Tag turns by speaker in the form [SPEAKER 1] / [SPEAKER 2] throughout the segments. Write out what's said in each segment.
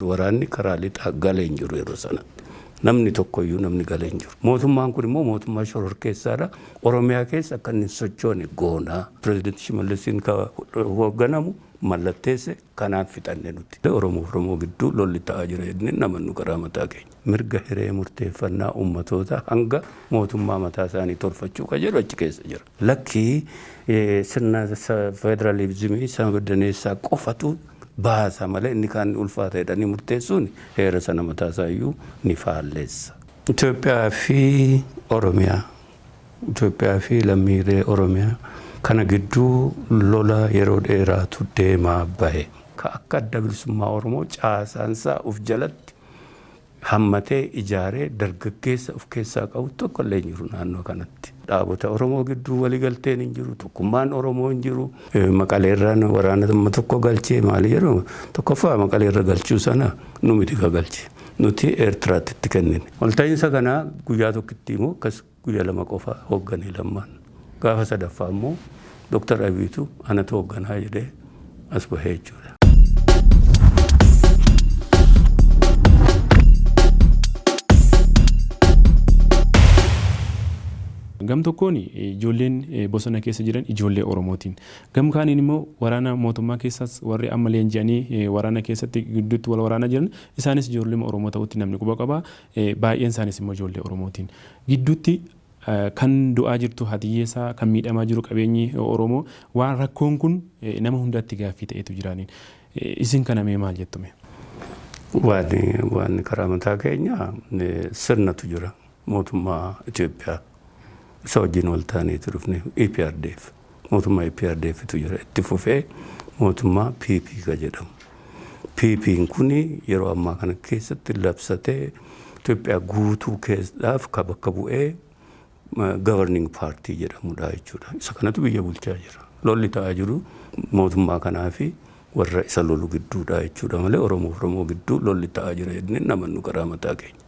[SPEAKER 1] Waraanni karaa lixaa gale hin jiru yeroo sanatti. Namni tokko iyyuu namni gale hin jiru. Mootummaan kun immoo mootummaa shororkeessaa dha. Oromiyaa keessa akka inni hin sochoone goona. Pirezidanti Shimallisiin ka hoogganamu mallatteesse kanaan fixanne nuti. Oromoo fi Oromoo gidduu lolli ta'aa jira jennee hin amannu garaa mataa keenya. Mirga hiree murteeffannaa ummatootaa hanga mootummaa mataa isaanii tolfachuu ka jedhu achi keessa jira. Lakki sirna federalizimii isa mirdaneessaa qofatu baasa malee inni kaan ni ulfaata jedhanii murteessuun heera sana mataa isaa iyyuu ni faallessa. Itoophiyaa fi Oromiyaa, Itoophiyaa fi lammiilee Oromiyaa kana gidduu lola yeroo dheeraatu deemaa bahe. Ka akka Adda Bilisummaa Oromoo caasaan isaa of jalatti hammatee ijaaree dargaggeessa of keessaa qabu tokko illee hin jiru naannoo kanatti. Dhaabota Oromoo gidduu wali galteen hin jiru, tokkummaan Oromoo hin jiru. Maqalee irraan waraana amma tokko galchee maali jedhu tokkoffaa Maqalee irra galchuu sana nu miti ka galche. Nuti Eertiraatti itti kennine. Walta'iinsa kana guyyaa tokkittii moo akkas Guyya lama qofa hoggane Lammaan. Gaafa sadaffaa immoo Dr. Abiyitu anatu hogganaa jedhee as bahee jechuudha.
[SPEAKER 2] Gam tokkoon ijoolleen bosona keessa jiran ijoollee Oromootiin. Gam kaaniin immoo waraana mootummaa keessaas warri amma leenji'anii waraana keessatti gidduutti wal waraanaa jiran isaanis ijoolluma Oromoo ta'utti namni quba qaba. Baay'een isaaniis immoo ijoollee Oromootiin. Gidduutti kan du'aa jirtu haati hiyyeessaa, kan miidhamaa jiru qabeenyi Oromoo waan rakkoon kun nama hundaatti gaaffii ta'eetu jira. Isin kana mee maal jettu mee? Waan
[SPEAKER 1] karaa mataa keenyaa sirnatu jira mootummaa Itoophiyaa. Isa wajjin wal taaneeti dhufne EPRDF. Mootummaa EPRDF tu jira. Itti fufee mootummaa PP ka jedhamu. PPn kun yeroo ammaa kana keessatti labsatee Itoophiyaa guutuu keessadhaaf ka bakka bu'ee governing party jedhamudha jechuudha. Isa kanatu biyya bulchaa jira. Lolli ta'aa jiru mootummaa kanaa fi warra isa lolu gidduudha jechuudha malee Oromoof Oromoo gidduu lolli ta'aa jira jennee hin amannu garaa mataa keenya.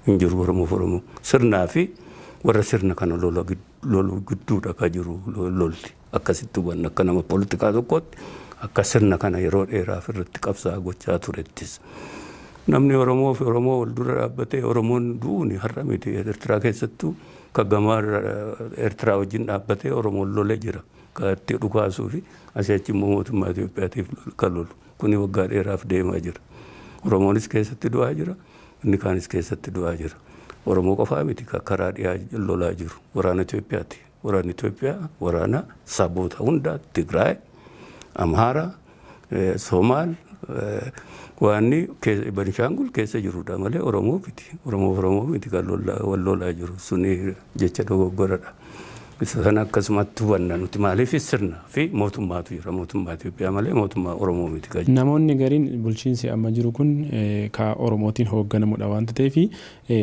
[SPEAKER 1] hin jiru Oromoof Oromoo. Sirnaa fi warra sirna kana lola gid- lolu gidduudha ka jiru lo- lolti. Akkasitti hubanna akka nama politikaa tokkootti akka sirna kana yeroo dheeraaf irratti qabsaa gochaa turettis. Namni Oromoo fi Oromoo wal dura dhaabbatee Oromoon du'uuni har'a miti Eertiraa keessattuu ka gamaa Eertiraa wajjin dhaabbatee Oromoon lole jira. Ka itti dhukaasuu fi asii achi immoo mootummaa Itoophiyaatiif lolu- ka lolu. Kuni waggaa dheeraaf deemaa jira. Oromoonis keessatti du'aa jira, inni kaanis keessatti du'aa jira. Oromoo qofaa miti ka karaa dhiyaa lolaa jiru. Waraana Itoophiyaati. Waraanni Itoophiyaa waraana saboota hundaa Tigraay, Amhaara, eh, Somaal, eh, waanni keessa- Banishaangul keessa jirudha malee Oromoo miti. Oromoo Oromoo miti kan lola- wal lolaa jiru. Suni jecha dogoggoradha. Isa kana akkasumatti hubanna nuti maaliif sirna fi mootummaatu jira mootummaa Itoophiyaa malee mootummaa Oromoo miti kan Namoonni gariin bulchiinsi
[SPEAKER 2] amma jiru kun ka Oromootiin hoogganamudha waan tateef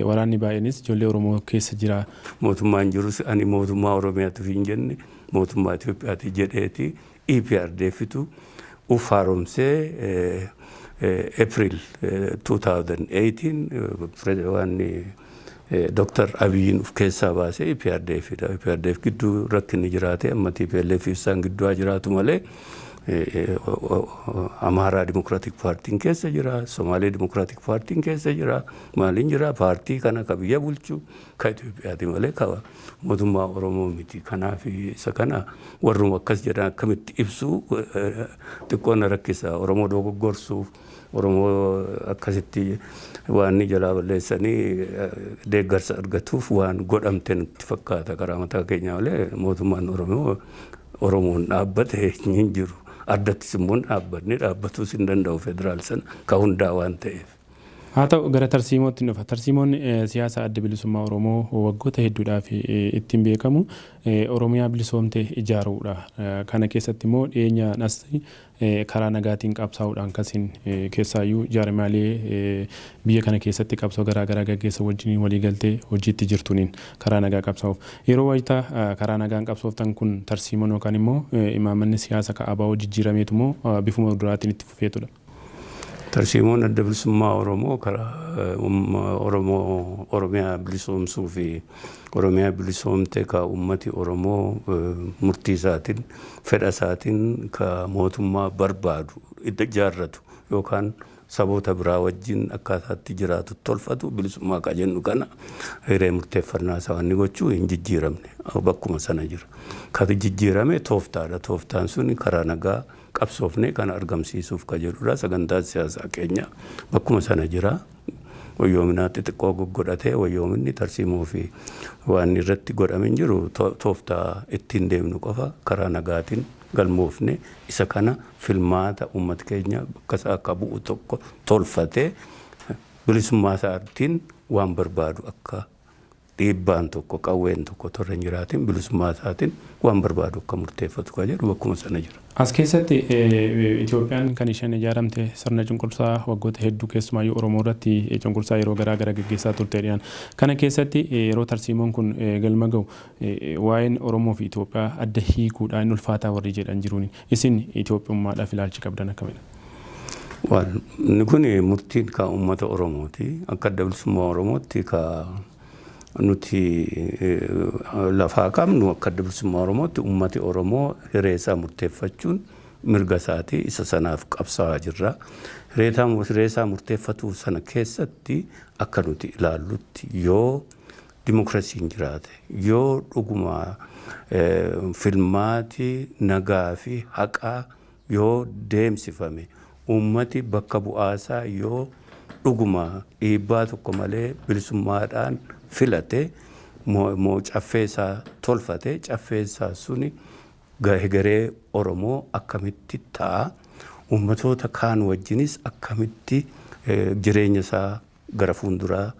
[SPEAKER 2] waraanni baay'eenis ijoollee Oromoo keessa jira. Mootummaan jirus
[SPEAKER 1] ani mootummaa Oromiyaatu hin jenne mootummaa Itoophiyaati jedheeti. EPRDFtu uf haaromsee April 2018 waan Dr. Abiyin uf keessaa baasee EPRDFdha. EPRDF gidduu rakkinni jiraatee amma TPLF fi isaan gidduu haa jiraatu malee Amaaraa Dimokiraatik Paartiin keessa jira, Somaalee Dimokiraatik Paartiin keessa jira, maaliin jira paartii kana ka biyya bulchu Ka Itoophiyaati malee ka mootummaa Oromoo miti. Kanaaf isa kana warruma akkas jedhan akkamitti ibsu xiqqoo na rakkisa. Oromoo dogoggorsuuf, Oromoo akkasitti waan inni jalaa balleessanii deeggarsa argatuuf waan godhamte nutti fakkaata karaa mataa keenyaa malee mootummaan Oromoo Oromoon dhaabbate hin jiru. Addattis immoo hin dhaabbanne, dhaabbatus hin danda'u federaal sana ka hundaa waan ta'eef. Haa ta'u, gara
[SPEAKER 2] tarsiimoottin dhufa. Tarsiimoon siyaasa Adda Bilisummaa Oromoo waggoota hedduudhaaf ittin beekamu Oromiyaa bilisoomte ijaaruudha. Kana keessatti immoo dhiyeenyaan as karaa nagaatiin qabsaa'uudhaan kasin keessaayyuu jaarmiyaalee biyya kana keessatti qabsoo garaa garaa gaggeessan wajjiniin walii galtee hojiitti jirtuuniin karaa nagaa qabsaa'uuf. Yeroo wayita karaa nagaan qabsooftan kun tarsiimoon yookaan immoo imaammanni siyaasa ka abo jijjiirameetu moo bifuma duraattin itti fufeetudha? Tarsiimoon
[SPEAKER 1] Adda Bilisummaa Oromoo karaa Oromiyaa bilisoomsuu fi Oromiyaa bilisoomte ka uummati Oromoo murtii isaatiin, fedha isaatiin ka mootummaa barbaadu ijaarratu yookaan saboota biraa wajjin akkaataa itti jiraatu tolfatu bilisummaa ka jennu kana hiree murteeffannaa isaa wanni gochuu hin jijjiiramne bakkuma sana jira. Ka jijjiirame tooftaadha. Tooftaan sun karaa nagaa qabsoofnee kana argamsiisuuf ka jedhudha. Sagantaan siyaasaa keenya bakkuma sana jira. Wayyoominaa xixiqqoo goggodhatee wayyoominni tarsiimoo fi waan irratti godhame hin jiru. Tooftaa ittiin deemnu qofa karaa nagaatiin galmoofne isa kana filmaata uummati keenya bakka isaa akka bu'u tokko tolfatee bilisummaa isaatiin waan barbaadu akka dhiibbaan tokko, qawween tokko otoo irra hin jiraatiin bilisummaa isaatiin waan barbaadu akka murteeffatu kan jedhu bakkuma sana jira. As keessatti
[SPEAKER 2] Itoophiyaan kan isheen ijaaramte sirna cunqursaa waggoota hedduu keessumaayyuu Oromoo irratti cunqursaa yeroo garaa gara geggeessaa turteedhaan. Kana keessatti yeroo tarsiimoon kun galma gahu waa'een Oromoo fi Itoophiyaa adda hiikuudhaa hin ulfaataa warri jedhan jiruuni. Isin Itoophiyummaadhaaf ilaalchi qabdan akkamidha? Waan
[SPEAKER 1] inni kun murtiin ka uummata Oromooti. Akka adda bilisummaa Oromootti ka nuti lafaa qabnu akka adda bilisummaa Oromootti uummati Oromoo hiree isaa murteeffachuun mirga isaati. Isa sanaaf qabsaa'aa jirra. Hiree isaa murteeffatuu sana keessatti akka nuti ilaallutti yoo dimokiraasiin jiraate yoo dhuguma filmaati nagaa fi haqaa yoo deemsifame uummati bakka bu'aasaa yoo dhuguma dhiibbaa tokko malee bilisummaadhaan filate moo caffeesaa tolfate caffeesaa suni hegeree Oromoo akkamitti ta'a? Uummatoota kaan wajjinis akkamitti jireenya isaa gara fuulduraa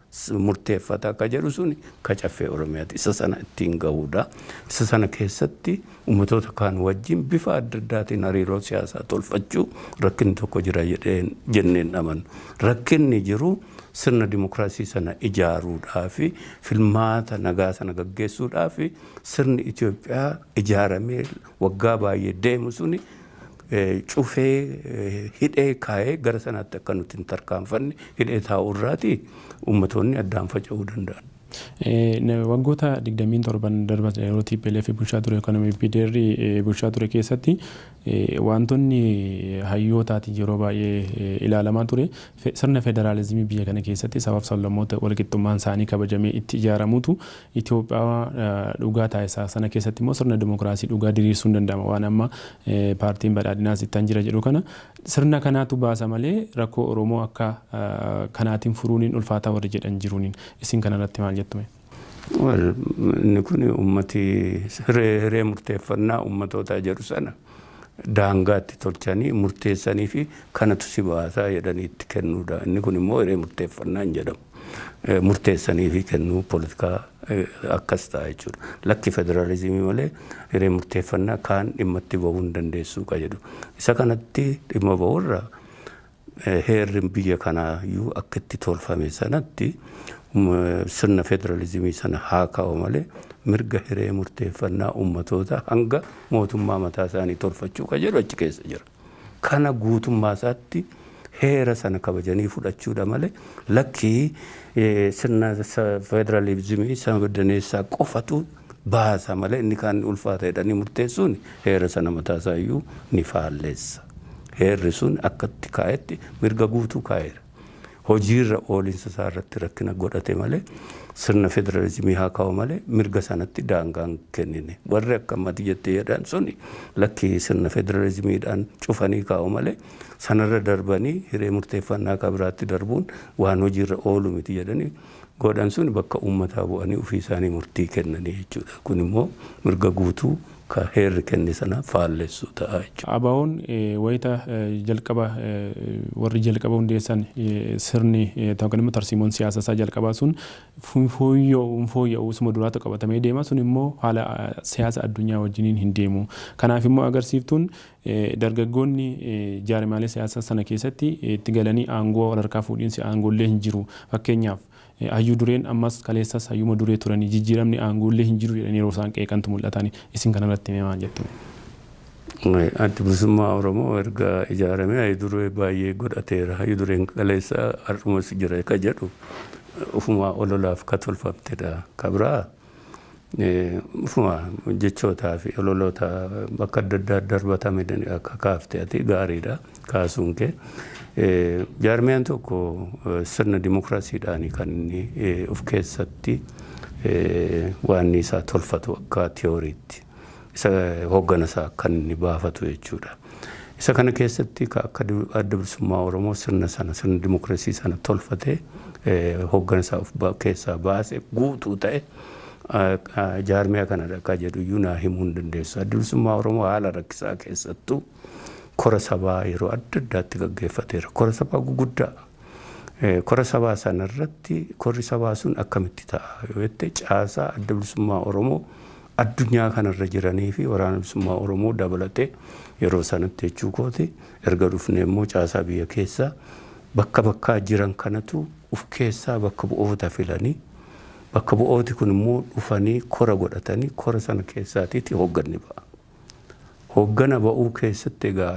[SPEAKER 1] murteeffata akka jedhu suni ka Caffee Oromiyaati. Isa sana ittiin gahuudha. Isa sana keessatti ummatoota kaan wajjin bifa adda addaatiin hariiroo siyaasaa tolfachuu rakkinni tokko jira jedheen jennee hin amanu. Rakkinni jiru sirna dimokiraasii sana ijaaruudhaafi filmaata nagaa sana gaggeessuudhaafi sirni Itoophiyaa ijaaramee waggaa baay'ee deemu suni cufee hidhee kaa'ee gara sanaatti akka nuti hin tarkaanfanne hidhee taa'uu irraati uummatoonni addaan faca'uu danda'an.
[SPEAKER 2] Waggoota 27n darban yeroo TPLF bulchaa ture yookaan MPDR bulchaa ture keessatti waantonni hayyootaatiin yeroo baay'ee ilaalamaa ture Sirna federaalizimii biyya kana keessatti sabaaf sablammoota walqixxummaan isaanii kabajamee itti ijaaramutu Itoophiyaa dhugaa taasisa. Sana keessatti immoo sirna dimokiraasii dhugaa diriirsuun danda'ama. Waan amma paartiin badhaadhinaas ittan jira jedhu kana sirna kanaatu baasa malee rakkoo Oromoo akka kanaatiin furuuniin ulfaataa warri jedhan jiruuniin. Isin kanarratti maal jettu mee? Well
[SPEAKER 1] inni kun ummati hiree hiree murteeffannaa ummatootaa jedhu sana daangaa itti tolchanii murteessanii fi kanatu si baasaa jedhanii itti kennuudha. Inni kun immoo hiree murteeffannaa hin jedhamu. Eh, Murteessanii fi kennuu politikaa eh, akkas ta'a jechuudha. Lakki federaalizimii malee hiree murteeffannaa kaan dhimma itti bahuu hin dandeessuu ka jedhu. Isa kanatti dhimma bahuu irraa Heerri biyya kanaa iyyuu akka itti tolfame sanatti sirna federalizimii sana haa kaa'u malee mirga hiree murteeffannaa ummatootaa hanga mootummaa mataa isaanii tolfachuu kan jedhu achi keessa jira. Kana guutummaa isaatti heera sana kabajanii fudhachuudha malee lakkii sirna federalizimii sabdaneessaa qofatu baasa malee inni kaan ni ulfaata jedhanii murteessuun heera sana mataa isaa iyyuu ni faallessa. Heerri sun akka itti kaa'etti mirga guutuu kaa'eera. Hojiirra oolinsa isaa irratti rakkina godhate malee sirna federalizimii haa kaa'u malee mirga sanatti daangaa hin kennine. Warri akka amma ati jette jedhan suni lakki sirna federalizimiidhaan cufanii kaa'u malee sanarra darbanii hiree murteeffannaa ka biraatti darbuun waan hojiirra oolu miti jedhanii godhan sun bakka uummataa bu'anii ofii isaanii murtii kennanii jechuudha. Kun immoo mirga guutuu ka heerri kenne sana faallessu ta'a jechuudha. ABOn wayita
[SPEAKER 2] jalqaba warri jalqaba hundeessan sirni yookaan immoo tarsiimoon siyaasa isaa jalqabaa sun hin fooyya'u hin fooyya'u isuma duraatu qabatamee deema sun immoo haala siyaasa addunyaa wajjiniin hin deemu. Kanaaf immoo agarsiiftuun Dargaggoonni jaarmiyaalee siyaasaa sana keessatti itti galanii aangoo walharkaa fuudhiinsi aangoollee hin jiru. Fakkeenyaaf, hayyuu dureen ammas kaleessas hayyuuma duree turanii jijjiiramni aangoollee hin jiru jedhanii yeroo isaan qeeqantu mul'ata. Isin kanarratti mee maal jettu mee?
[SPEAKER 1] Addi Bilisummaa Oromoo erga ijaaramee hayyu duree baay'ee godhateera. Hayyu dureen kaleessaa har'umas jira ka jedhu ofumaa ololaaf ka tolfamtedha. Ka biraa. Ufuma jechootaa fi ololoota bakka adda addaa darbatame akka kaafte ati gaariidha kaasuun kee. Jaarmiyaan tokko sirna dimokiraasiidhaan kan inni of keessatti waan isaa tolfatu akka tiyooriitti. isa hooggana isaa akka inni baafatu jechuudha. Isa kana keessatti ka akka du- adda bilisummaa Oromoo sirna sana sirna dimokiraasii sana tolfatee eh, hooggana isaa of ba- keessaa baase guutuu ta'e ah, ah, jaarmiyaa kanadha akka jedhu iyyuu naa himuu hin dandeessu. Adda bilisummaa Oromoo haala rakkisaa keessattuu kora sabaa yeroo adda addaatti gaggeeffateera. Kora sabaa guguddaa Kora sabaa sana irratti korri sabaa sun akkamitti ta'a yoo jette caasaa adda bilisummaa Oromoo addunyaa kanarra jiranii fi waraana bilisummaa Oromoo dabalate yeroo sanatti jechuu kooti erga dhufnee immoo caasaa biyya keessaa bakka bakkaa jiran kanatu uf keessaa bakka bu'oota filanii bakka bu'ooti kun immoo dhufanii kora godhatanii kora sana keessaatiiti hoogganni ba'a. Hooggana ba'uu keessatti egaa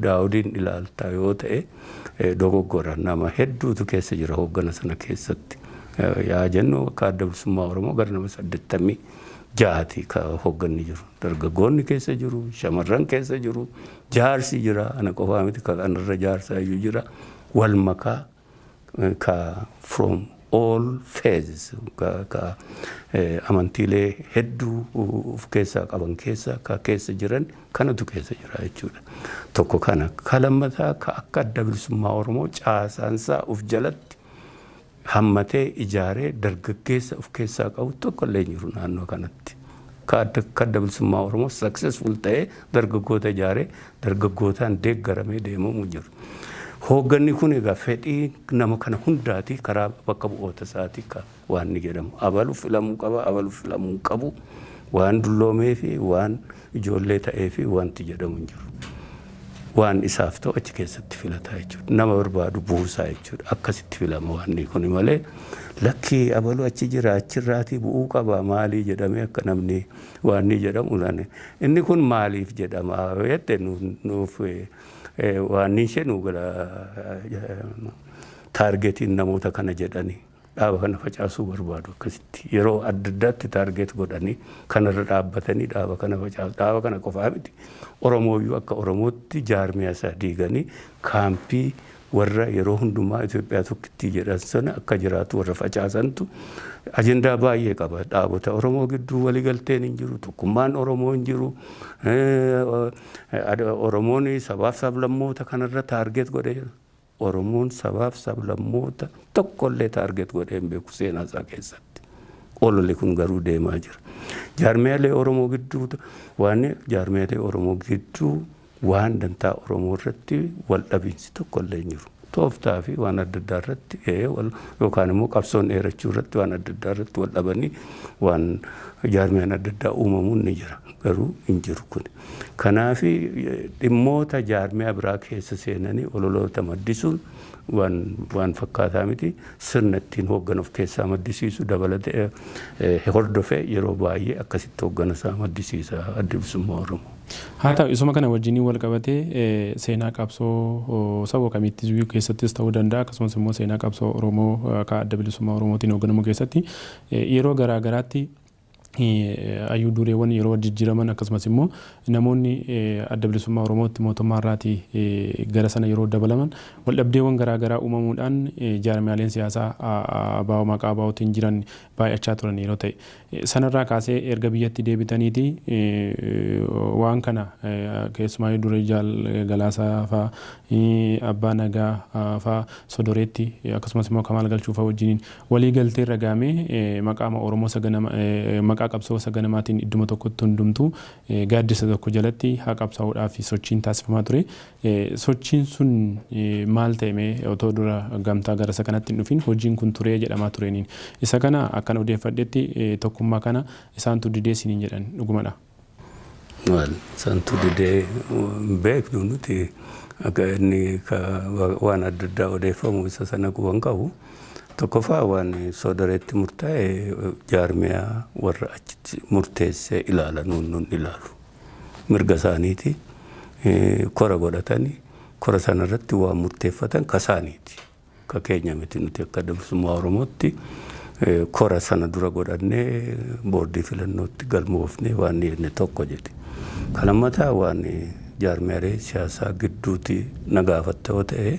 [SPEAKER 1] Daawudiin ilaalta yoo ta'e dogoggora nama hedduutu keessa jira hooggana sana keessatti yaa jennu akka adda bilisummaa Oromoo gara nama saddettamii jaati ka hoogganni jiru. Dargaggoonni keessa jiru, shamarran keessa jiru, jaarsi jira, ana qofaa miti ka kanarra jaarsa iyyuu jira, wal makaa ka from all faiths ka, ka eh, amantiilee hedduu of keessaa qaban keessa ka keessa jiran kanatu keessa jira jechuudha. Tokko kana. Ka lammataa ka akka adda bilisummaa Oromoo caasaansaa of jalatti hammatee ijaaree dargaggeessa of keessaa qabu tokko illee hin jiru naannoo kanatti. Kaadda Kadda Bilisummaa Oromoo successful ta'ee dargaggoota ijaaree dargaggootaan deeggaramee deemamu jiru. Hoogganni kun egaa fedhii nama kana hundaati karaa bakka bu'oota isaati ka waanni jedhamu. Abalu filamuu qaba, abalu filamuu hin qabu waan dulloomeefi waan ijoollee ta'eefi wanti jedhamu hin jiru. waan isaaf ta'u achi keessatti filataa jechuudha. Nama barbaadu buusaa jechuudha. Akkasitti filama waanni kuni malee lakkii abaluu achi jira achirraatii bu'uu qaba maalii jedhamee akka namni waanni jedhamu lane. Inni kun maaliif jedhama jette nuuf waanni ishee nu bira taargetiin namoota kana jedhanii. dhaaba kana facaasuu barbaadu akkasitti yeroo adda addaatti taargeet godhanii kanarra dhaabbatanii dhaaba kana facaasu dhaaba kana qofaa miti oromooyyuu akka oromootti jaarmiyaa isaa diiganii kaampii warra yeroo hundumaa Itoophiyaa tokkittii jedhan sana akka jiraatu warra facaasantu ajendaa baay'ee qaba dhaabota oromoo gidduu waliigalteen hin jiru tokkummaan oromoo hin jiru oromoon sabaaf sablammoota kanarra taargeet godhee jira. Oromoon sabaaf sablammoota tokkollee target godhee hin beeku seenaa isaa keessatti. Ololi kun garuu deemaa jira. Jaarmiyaalee Oromoo gidduu waan jaarmiyaalee Oromoo gidduu waan dantaa Oromoo irratti wal dhabiinsi tokkollee hin jiru. Tooftaa fi waan adda addaa irratti yookaan immoo qabsoon dheerachuu irratti waan adda addaa irratti wal dhabanii waan jaarmiyaan adda addaa uumamuun ni jira. Garuu hin jiru kuni. Kanaaf dhimmoota jaarmiyaa biraa keessa seenanii ololoota maddisuun waan fakkaataa miti. Sirna ittiin hooggana of keessaa maddisiisu dabalatee hordofee yeroo baay'ee akkasitti hooggana isaa maddisiisa Addi Bilisummaa Oromoo. Haa ta'u isuma kana
[SPEAKER 2] wajjiniin wal qabatee seenaa qabsoo sabo kamiittiyyuu keessattis ta'uu danda'a akkasumas immoo seenaa qabsoo Oromoo ka Adda Bilisummaa Oromootiin hoogganamu keessatti yeroo garaa garaatti Hayyuu dureewwan yeroo jijjiiraman akkasumas immoo namoonni Adda Bilisummaa Oromootti mootummaa irraati gara sana yeroo dabalaman waldhabdeewwan garaa garaa uumamuudhaan jaarmiyaaleen siyaasaa ABO maqaa ABOtiin jiran baay'achaa turan yeroo ta'e. Sanarraa kaasee erga biyyatti deebitaniiti waan kana keessumaayyuu durii Jaal Galaasaa faa, Abbaa Nagaa faa Sodoreetti akkasumas immoo Kamaal Galchuu faa wajjiniin Walii galtee irra gaame maqaama Oromoo saganama maqaa qabsoo saganamaatiin idduma tokkotti hundumtuu gaaddisa tokko jalatti haa qabsaa'uudhaafi sochiin taasifamaa ture. Sochiin sun maal ta'e mee otoo dura gamtaa gara isa kanatti hin dhufin hojiin kun turee jedhamaa tureeniin. Isa kana akkan odeeffadhetti tokkummaa kana isaantu didee isiniin jedhan. Dhugumadhaa? Maal santu
[SPEAKER 1] didee hin beeknu nuti akka inni ka wa- waan adda addaa odeeffamu isa sana quba hin qabu. Tokkoffaa waan soodareetti murtaa'e eh, jaarmiyaa warra achitti murteessee ilaala nuun nun ilaalu. Mirga isaaniiti eh, kora godhatani kora sana irratti waan murteeffatan ka isaaniiti. Ka keenya miti nuti akka Adda Bilisummaa Oromootti kora sana dura godhannee boordii filannootti galmoofnee waan dhiyeessine tokko jedhe. Ka lammataa waan jaarmiyaalee siyaasaa gidduuti na gaafatta yoo ta'e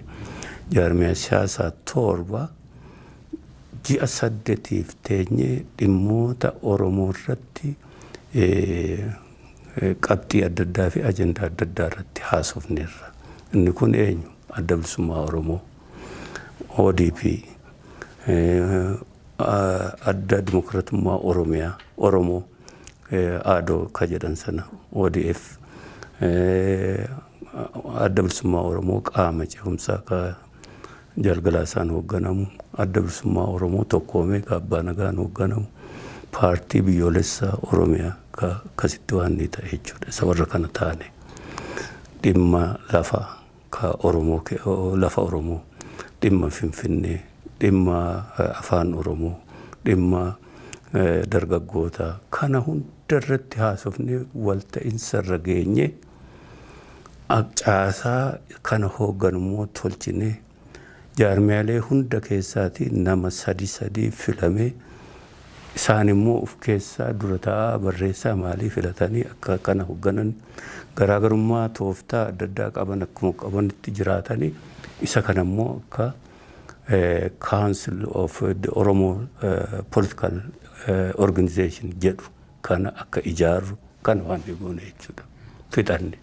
[SPEAKER 1] jaarmiyaa siyaasaa torba ji'a saddetiif teenyee dhimmoota Oromoo irratti qabxii adda addaa fi ajandaa adda addaa irratti haasofneerra. Inni kun eenyu? Adda Bilisummaa Oromoo, ODP, Adda Dimokiratummaa Oromiyaa, Oromoo, ADO ka jedhan sana, ODF, Adda Bilisummaa Oromoo qaama ce'umsaa ka Jaalgalaa isaan hoogganamu, Adda Bilisummaa Oromoo tokkoomee ka Abbaa Nagaan hoogganamu, paartii biyyoolessaa Oromiyaa ka akkasitti waan ni ta'e jechuudha. Isa warra kana taane dhimma lafaa. ka Oromoo ke lafa Oromoo, dhimma Finfinnee, dhimma Afaan Oromoo, dhimma dargaggoota kana hunda irratti haasofnee walta'insa irra geenye caasaa kana hoogganu immoo tolchinee jaarmiyaalee hunda keessaatii nama sadi sadii filamee Isaan immoo of keessaa dura taa'aa, barreessaa maalii filatanii akka kana hogganan, garaagarummaa tooftaa adda addaa qaban akkuma qabanitti jiraatanii isa kana immoo akka Council of the Oromo Political Organization jedhu kana akka ijaarru kana waan goone jechuudha. Fixanne.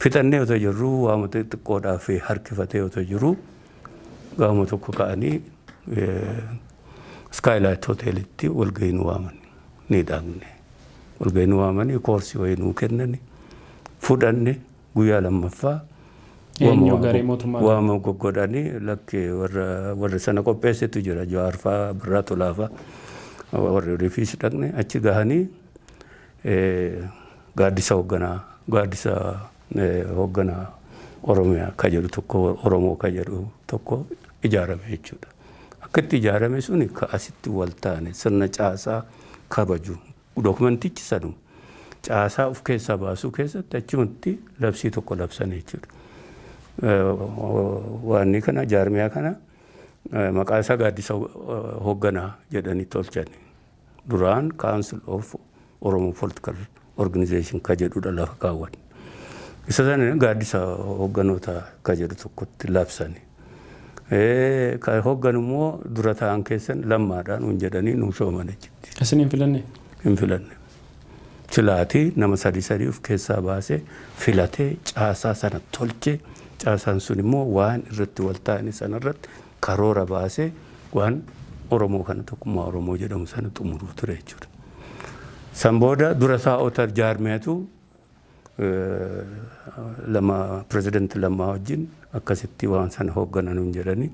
[SPEAKER 1] Fixannee otoo jirru waama xixiqqoodhaaf harkifatee otoo jiru gaama tokko ka'anii Skylight Hoteelitti walgahii nu waamani. Ni dhaqne. Walgahii nu waamanii koorsii wayii nuu kennani. Fudhanne guyyaa lammaffaa Eenyu garee mootummaa irraa? waama goggodhanii lakki warra warra sana qopheessetu jira jawaarfaa birraa tolaafaa warri rifiis dhaqne achi gahanii eh, gaaddisa hoogganaa gaaddisa eh, hoogganaa oromiyaa ka jedhu tokko oromoo ka jedhu tokko ijaarame jechuudha. akka itti ijaarame suni ka asitti wal taane sirna caasaa kabaju dokumantichi sanuma. Caasaa of keessaa baasuu keessatti achumatti labsii tokko labsan jechuudha. Waanni kana jaarmiyaa kana maqaa isaa gaaddisa hoogganaa jedhanii tolchani. duraan Council of Oromo Political Organization ka jedhudha lafa kaawwan. Isa sana gaaddisa hogganoota ka jedhu tokkotti labsani. Eh, Ka hoggan immoo dura ta'an keessan lammaadhaan nuun jedhanii nuu shooman achitti. Isin hin filanne?
[SPEAKER 2] hin filanne.
[SPEAKER 1] Silaatii nama sadii sadii of keessaa baasee filatee caasaa sana tolchee caasaan sun immoo waan irratti wal taa'anii sana irratti karoora baase waan Oromoo kana tokkummaa Oromoo jedhamu sana xumuruu ture jechuudha. San booda dura taa'ota jaarmiyatu lama pirezidanti lammaa wajjin akkasitti waan sana hooggananuun jedhanii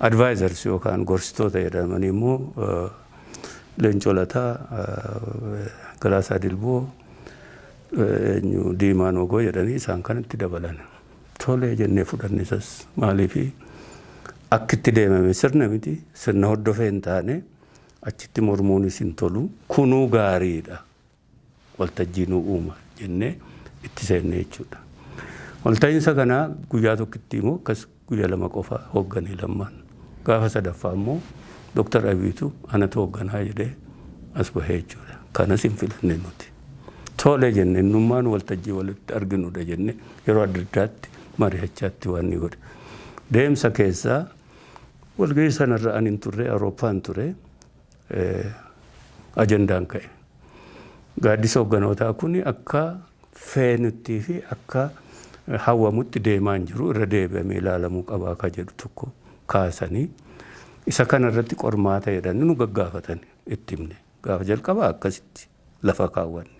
[SPEAKER 1] advaayizars yookaan gorsitoota jedhamanii immoo Leencoo Lataa, Galaasaa Dilboo, eenyu Diimaa Noogoo jedhanii isaan kanatti dabalan. Tole jennee fudhanne isas. Maaliif akki itti deemame sirna miti. Sirna hordofee hin taane achitti mormuunis hin tolu. Kunuu gaariidha. Waltajjii nuu uuma jennee itti seenne jechuudha. Walta'iinsa kana guyyaa tokkittii moo akkas guyya lama qofa hooggane Lammaan. Gaafa sadaffaa immoo Doktar Abiyitu anatu hoogganaa jedhee as bahee jechuudha. Kanas hin filanne nuti. Tole jenne innummaan waltajjii walitti arginudha jenne yeroo adda addaatti mari'achaatti waan ni godhe. Deemsa keessaa walgahii sanarra ani hin turre Awurooppaan ture ajandaan ka'e. Gaaddisa hogganootaa kun akka feenuttii fi akka hawwamutti deemaa hin jiru irra deebi'amee ilaalamuu qabaa akka jedhu tokko kaasanii isa kanarratti qormaata jedhanii nu gaggaafatan itti himne. Gaafa jalqabaa akkasitti lafa kaawwanne.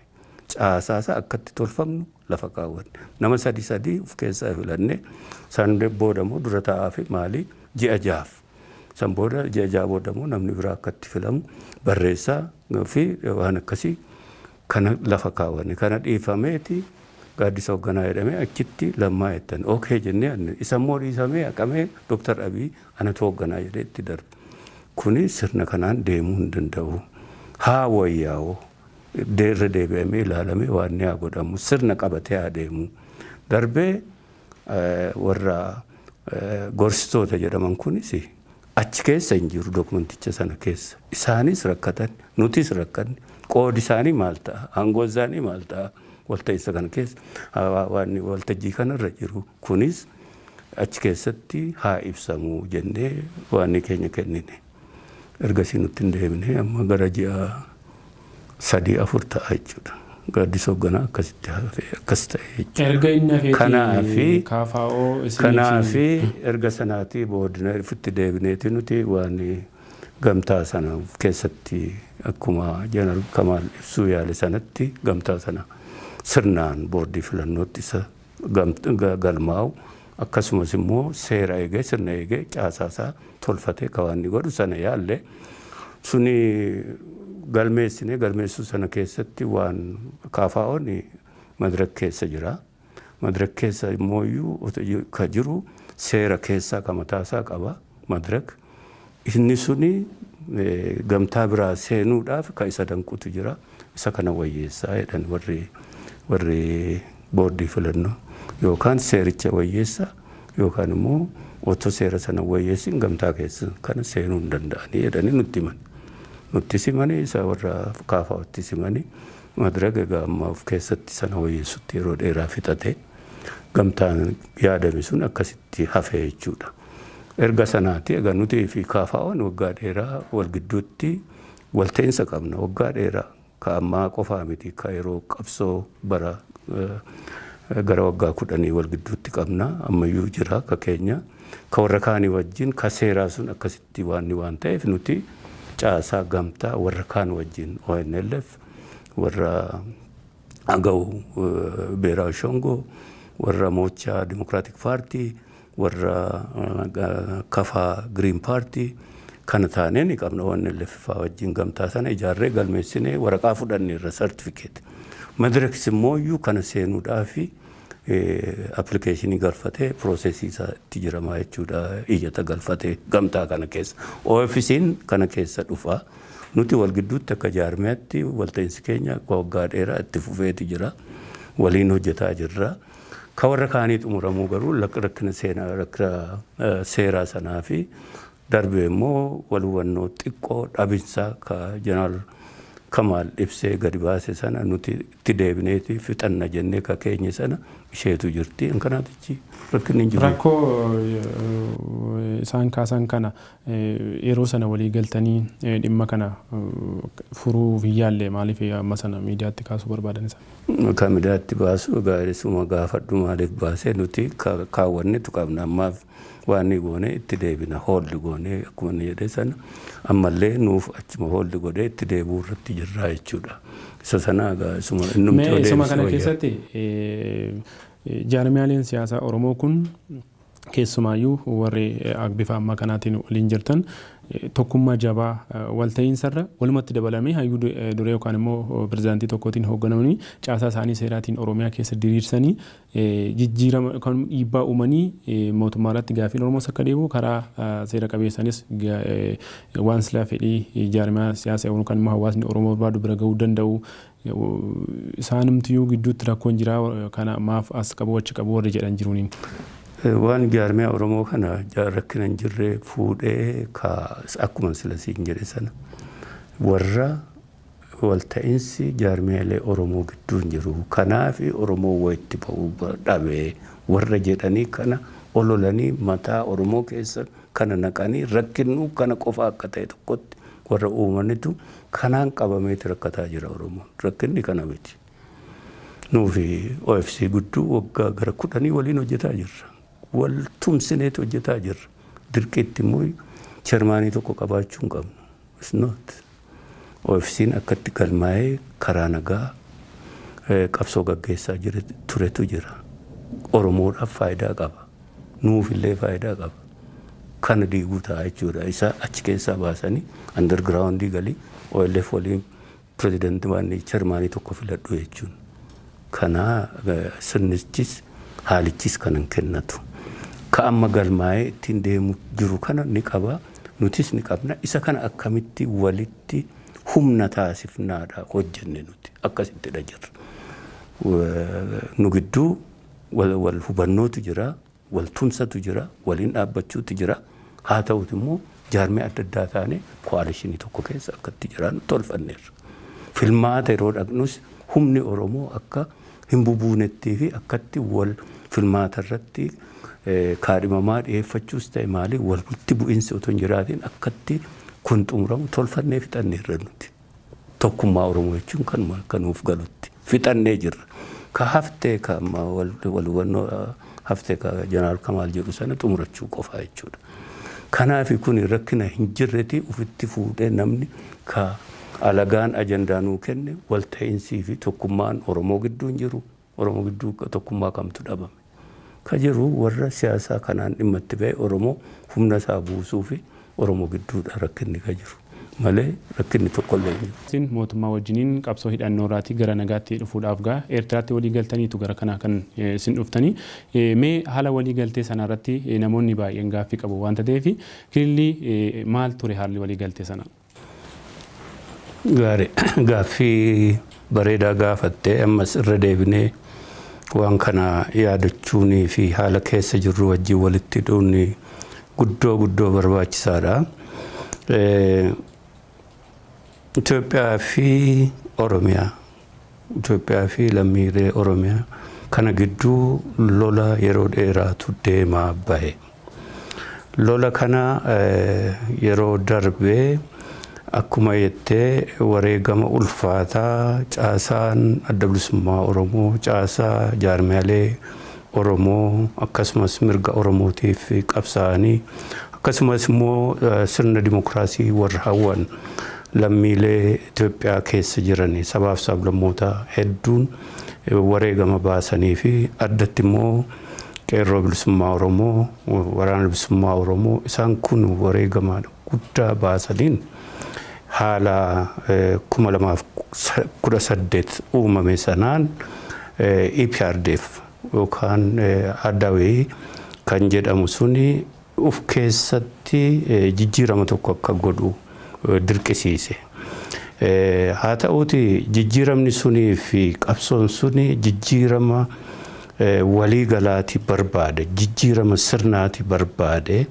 [SPEAKER 1] Caasaa isaa akka itti tolfamnu lafa kaawwanne. Nama sadi sadi of keessaa filanne. San booda immoo dura taa'aa fi maalii ji'a jahaaf. San booda ji'a jaha booda immoo namni biraa akka itti filamu barreessaa fi waan akkasii kana lafa kaawwanne. Kana dhiifameeti gaaddisa hoogganaa jedhamee achitti lammaa jettan. Okay jennee anne. Isa immoo dhiisamee haqamee Dr. Abiy Anatu hoogganaa jedhee itti darba. Kuni sirna kanaan deemuu hin danda'u. Haa wayyaa'u. Irra deebi'amee ilaalamee waanni haa godhamu. Sirna qabatee haa deemu. Darbee warra gorsitoota jedhaman kunis achi keessa hin jiru dokumenticha sana keessa. Isaanis rakkatan, nutis rakkanne. Qoodi isaanii maal ta'a? Aangoon isaanii maal ta'a? Walta'iinsa kana keessa, waanni waltajjii kanarra jiru. Kunis achi keessatti haa ibsamu jennee waanii keenya kennine. Ergasii nutti hin deebine. Amma gara ji'a sadii afur ta'a jechuudha. Gaaddisa Hogganaa akkasitti hafe, akkas ta'e jechuudha. Erga inni hafeeti
[SPEAKER 2] Kanaafi, KFO isiniif
[SPEAKER 1] kanaafi hin... erga sanaatii boodna ifitti deebineeti nuti waan gamtaa sana of keessatti akkuma Jeneral Kamaal ibsuu yaale sanatti gamtaa sana sirnaan boordii filannootti isa galmaa'u akkasumas immoo seera eegee sirna eegee caasaasaa tolfatee kawaanni godhu sana yaalle suni galmeessine galmeessuu sana keessatti waan kaafaa'oon madirak keessa jira. Madirak keessa immoo iyyuu ka jiru seera keessaa ka mataasaa qaba madirak. Inni suni gamtaa biraa seenuudhaaf ka isa danqutu jira. Isa kana wayyeessaa jedhan warri warri boordii filannoo. Yookaan seericha wayyeessa yookaan immoo otoo seera sana hin wayyeessin gamtaa keessa kana seenuu hin danda'anii jedhanii nutti himan. Nutti simanii isa warra kaafaawatti simanii madrag egaa amma of keessatti sana wayyeessutti yeroo dheeraa fixate gamtaan yaadame sun akkasitti hafee jechuudha. Erga sanaati egaa nutii fi KFOn waggaa dheeraa wal gidduutti wal ta'iinsa qabna. Waggaa dheeraa ka ammaa qofaa miti ka yeroo qabsoo bara gara waggaa kudhanii wal gidduutti qabna. Ammayyuu jira ka keenya. Ka warra kaanii wajjin ka seeraa sun akkasitti waanni waan ta'eef nuti caasaa gamtaa warra kaan wajjin ONLF warra Agaw Beeraawi Shongoo warra Moochaa Dimokiraatik Paartii Warra Kafaa Green Party kana taanee ni qabna ONLF faa wajjin gamtaa sana ijaarree galmeessinee waraqaa fudhanneerra certificate. Madirakis immoo iyyuu kana seenuudhaaf application galfatee process isaa itti jiramaa jechuudha iyyata galfatee gamtaa kana keessa. OFCn kana keessa dhufa. Nuti wal gidduutti akka jaarmiyaatti walta'iinsi keenya akka waggaa dheeraa itti fufeeti jira. Waliin hojjetaa jirra. Ka warra kaanii xumuramuu garuu lak rakkina seenaa rakkina seeraa sanaa fi darbee immoo wal hubannoo xiqqoo dhabinsa ka Jeneraal Kamaal ibsee gadi baase sana nuti itti deebineeti fixanna jennee ka keenye sana isheetu jirti. An kanaaf achi rakkinni hin jiru. Rakkoo
[SPEAKER 2] isaan kaasan kana yeroo sana walii galtanii dhimma kana furuuf hin yaalle maaliif amma sana miidiyaatti kaasuu barbaadan isaan? Kamidaatti
[SPEAKER 1] baasuu egaa isuma gaafadhu maaliif baase nuti kaawwannetu qabna ammaaf waanni goone itti deebina hold goone akkuma inni jedhe sana ammallee nuuf achuma hold godhee itti deebi'uu irratti jirraa jechuudha isa sana egaa isuma innumti Mee yoo isuma deebise kana wayya. keessatti
[SPEAKER 2] jaarmiyaaleen siyaasaa Oromoo kun Keessumaayyuu warri bifa ammaa kanaatiin waliin jirtan tokkummaa jabaa walta'iinsarra walumatti dabalamee hayyuu duree yookaan immoo pirezidaantii tokkootiin hoogganamanii caasaa isaanii seeraatiin Oromiyaa keessa diriirsanii jijjiirama yookaan dhiibbaa uumanii mootummaa irratti gaafiin Oromoos akka deebi'u karaa seera qabeessanis waan silaa fedhii jaarmaa siyaasa yookaan immoo hawaasni Oromoo barbaadu bira ga'uu danda'u Isaanumtiyyuu gidduutti rakkoon jira kana maaf as qabu achi qabu warri jedhan jiru ni. Waan
[SPEAKER 1] jaarmiyaa Oromoo kana rakkina hin jirre fuudhee ka akkuman sila siin jedhe sana warra walta'insi jaarmiyaalee Oromoo gidduu hin jiru kanaafi Oromoo wa itti ba'u dhabe warra jedhanii kana ololanii mataa Oromoo keessa kana naqanii rakkinnu kana qofa akka ta'e tokkotti warra uumanitu Kanaan qabameeti rakkataa jira Oromoon. Rakkinni kana miti. Nuufi OFC gudduu waggaa gara kudhanii waliin hojjetaa jirra. Wal tumsineeti hojjetaa jirra. Dirqiitti immoo chermaanii tokko qabaachuu hin qabnu. It's not. OFCn akkatti galmaa'ee karaa nagaa qabsoo gaggeessaa turetu jira. Oromoodhaaf faayidaa qaba. Nuuf illee faayidaa qaba. Kana diiguu ta'a jechuudha. Isa achi keessaa baasanii under ground galii OLF waliin president waanni chairman tokko filadhu jechuun. Kana sirnichis haalichis kana hin kennatu. Ka amma galmaa'ee ittiin deemu jiru kana ni qaba. Nutis ni qabna. Isa kana akkamitti walitti humna taasifnaadha hojjenne nuti. Akkasittidha jirra. Nu gidduu Wal hubannootu jira, wal tumsatu jira, waliin dhaabbachuutu jira. Haa ta'uuti immoo jaarmiyaa adda addaa taanee ko'aalishinii tokko keessa akka itti jiraannu tolfanneerra. Filmaata yeroo dhaqnus humni Oromoo akka hin bubuunettii fi akkatti wal filmaata irratti kaadhimamaa dhiyeeffachuus ta'e maalii walitti bu'iinsi otoo hin jiraatiin akkatti kun xumuramu tolfannee fixanneerra nuti. Tokkummaa Oromoo jechuun kanuma akka nuuf galutti. Fixannee jirra. Ka haftee ka amma wal wal hubannoo haftee ka Jeneraal Kamaal jedhu sana xumurachuu qofaa jechuudha. Kanaafi kuni rakkina hin jirreti ufitti fuudhee namni ka alagaan ajandaa nuu kenne wal ta'insii fi tokkummaan Oromoo gidduu hin jiru. Oromo giddu tokkummaa kamtu dhabame? Ka jedhu warra siyaasaa kanaan dhimma itti bahe Oromo humna isaa buusuufi Oromo gidduudha rakkinni ka jiru malee rakkinni tokkollee hin jiru. Isin mootummaa wajjiniin
[SPEAKER 2] qabsoo hidhannoorraati gara nagaatti dhufuudhaaf ga Eertiraatti walii galtaniitu gara kanaa kan isin dhuftani. Mee haala walii galtee sanaa irratti namoonni baay'een gaaffii qabu waanta ta'eefi kilillii maal ture haalli walii galtee sanaa?
[SPEAKER 1] Gaari gaaffii bareedaa gaafatte ammas irra deebinee waan kana yaadachuunii fi haala keessa jirru wajjin walitti hidhuun guddoo guddoo barbaachisaadha. Itoophiyaa fi Oromiyaa Itoophiyaa fi lammiilee Oromiyaa kana gidduu lola yeroo dheeraatu deemaa bahe. Lola kana yeroo darbe akkuma jettee wareegama ulfaataa caasaan adda bilisummaa Oromoo caasaa jaarmiyaalee Oromoo akkasumas mirga Oromootiif qabsaa'anii akkasumas immoo sirna dimokiraasii warra hawwan lammiilee Itoophiyaa keessa jiran sabaaf sablammoota hedduun wareegama baasanii fi addatti immoo Qeerroo Bilisummaa Oromoo, Waraana Bilisummaa Oromoo isaan kun wareegama guddaa baasaniin haala 2018 uumame sanaan EPRDF yookaan Adawee kan jedhamu suni uf keessatti jijjiirama tokko akka godhu dirqisiise. Haa ta'uuti jijjiiramni sunii fi qabsoon suni jijjiirama walii galaati barbaade, jijjiirama sirnaati barbaade.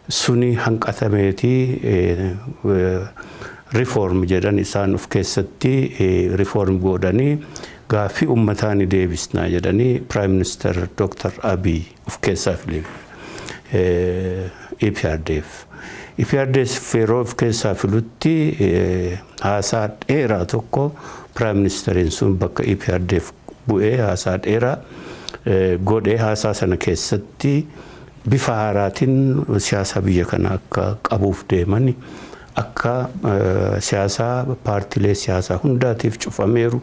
[SPEAKER 1] suni hanqatameeti reform jedhan isaan of keessatti reform goodhanii gaaffii ummataa ni deebisna jedhanii Prime Minister Dr. Abiy of keessaa filiif EPRDF. EPRDF yeroo of keessaa filutti haasaa dheeraa tokko Prime Ministeriin sun bakka EPRDF bu'ee haasaa dheeraa godhee haasaa sana keessatti bifa haaraatiin siyaasa biyya kana akka qabuuf deeman akka siyaasaa paartilee siyaasaa hundaatiif cufameeru,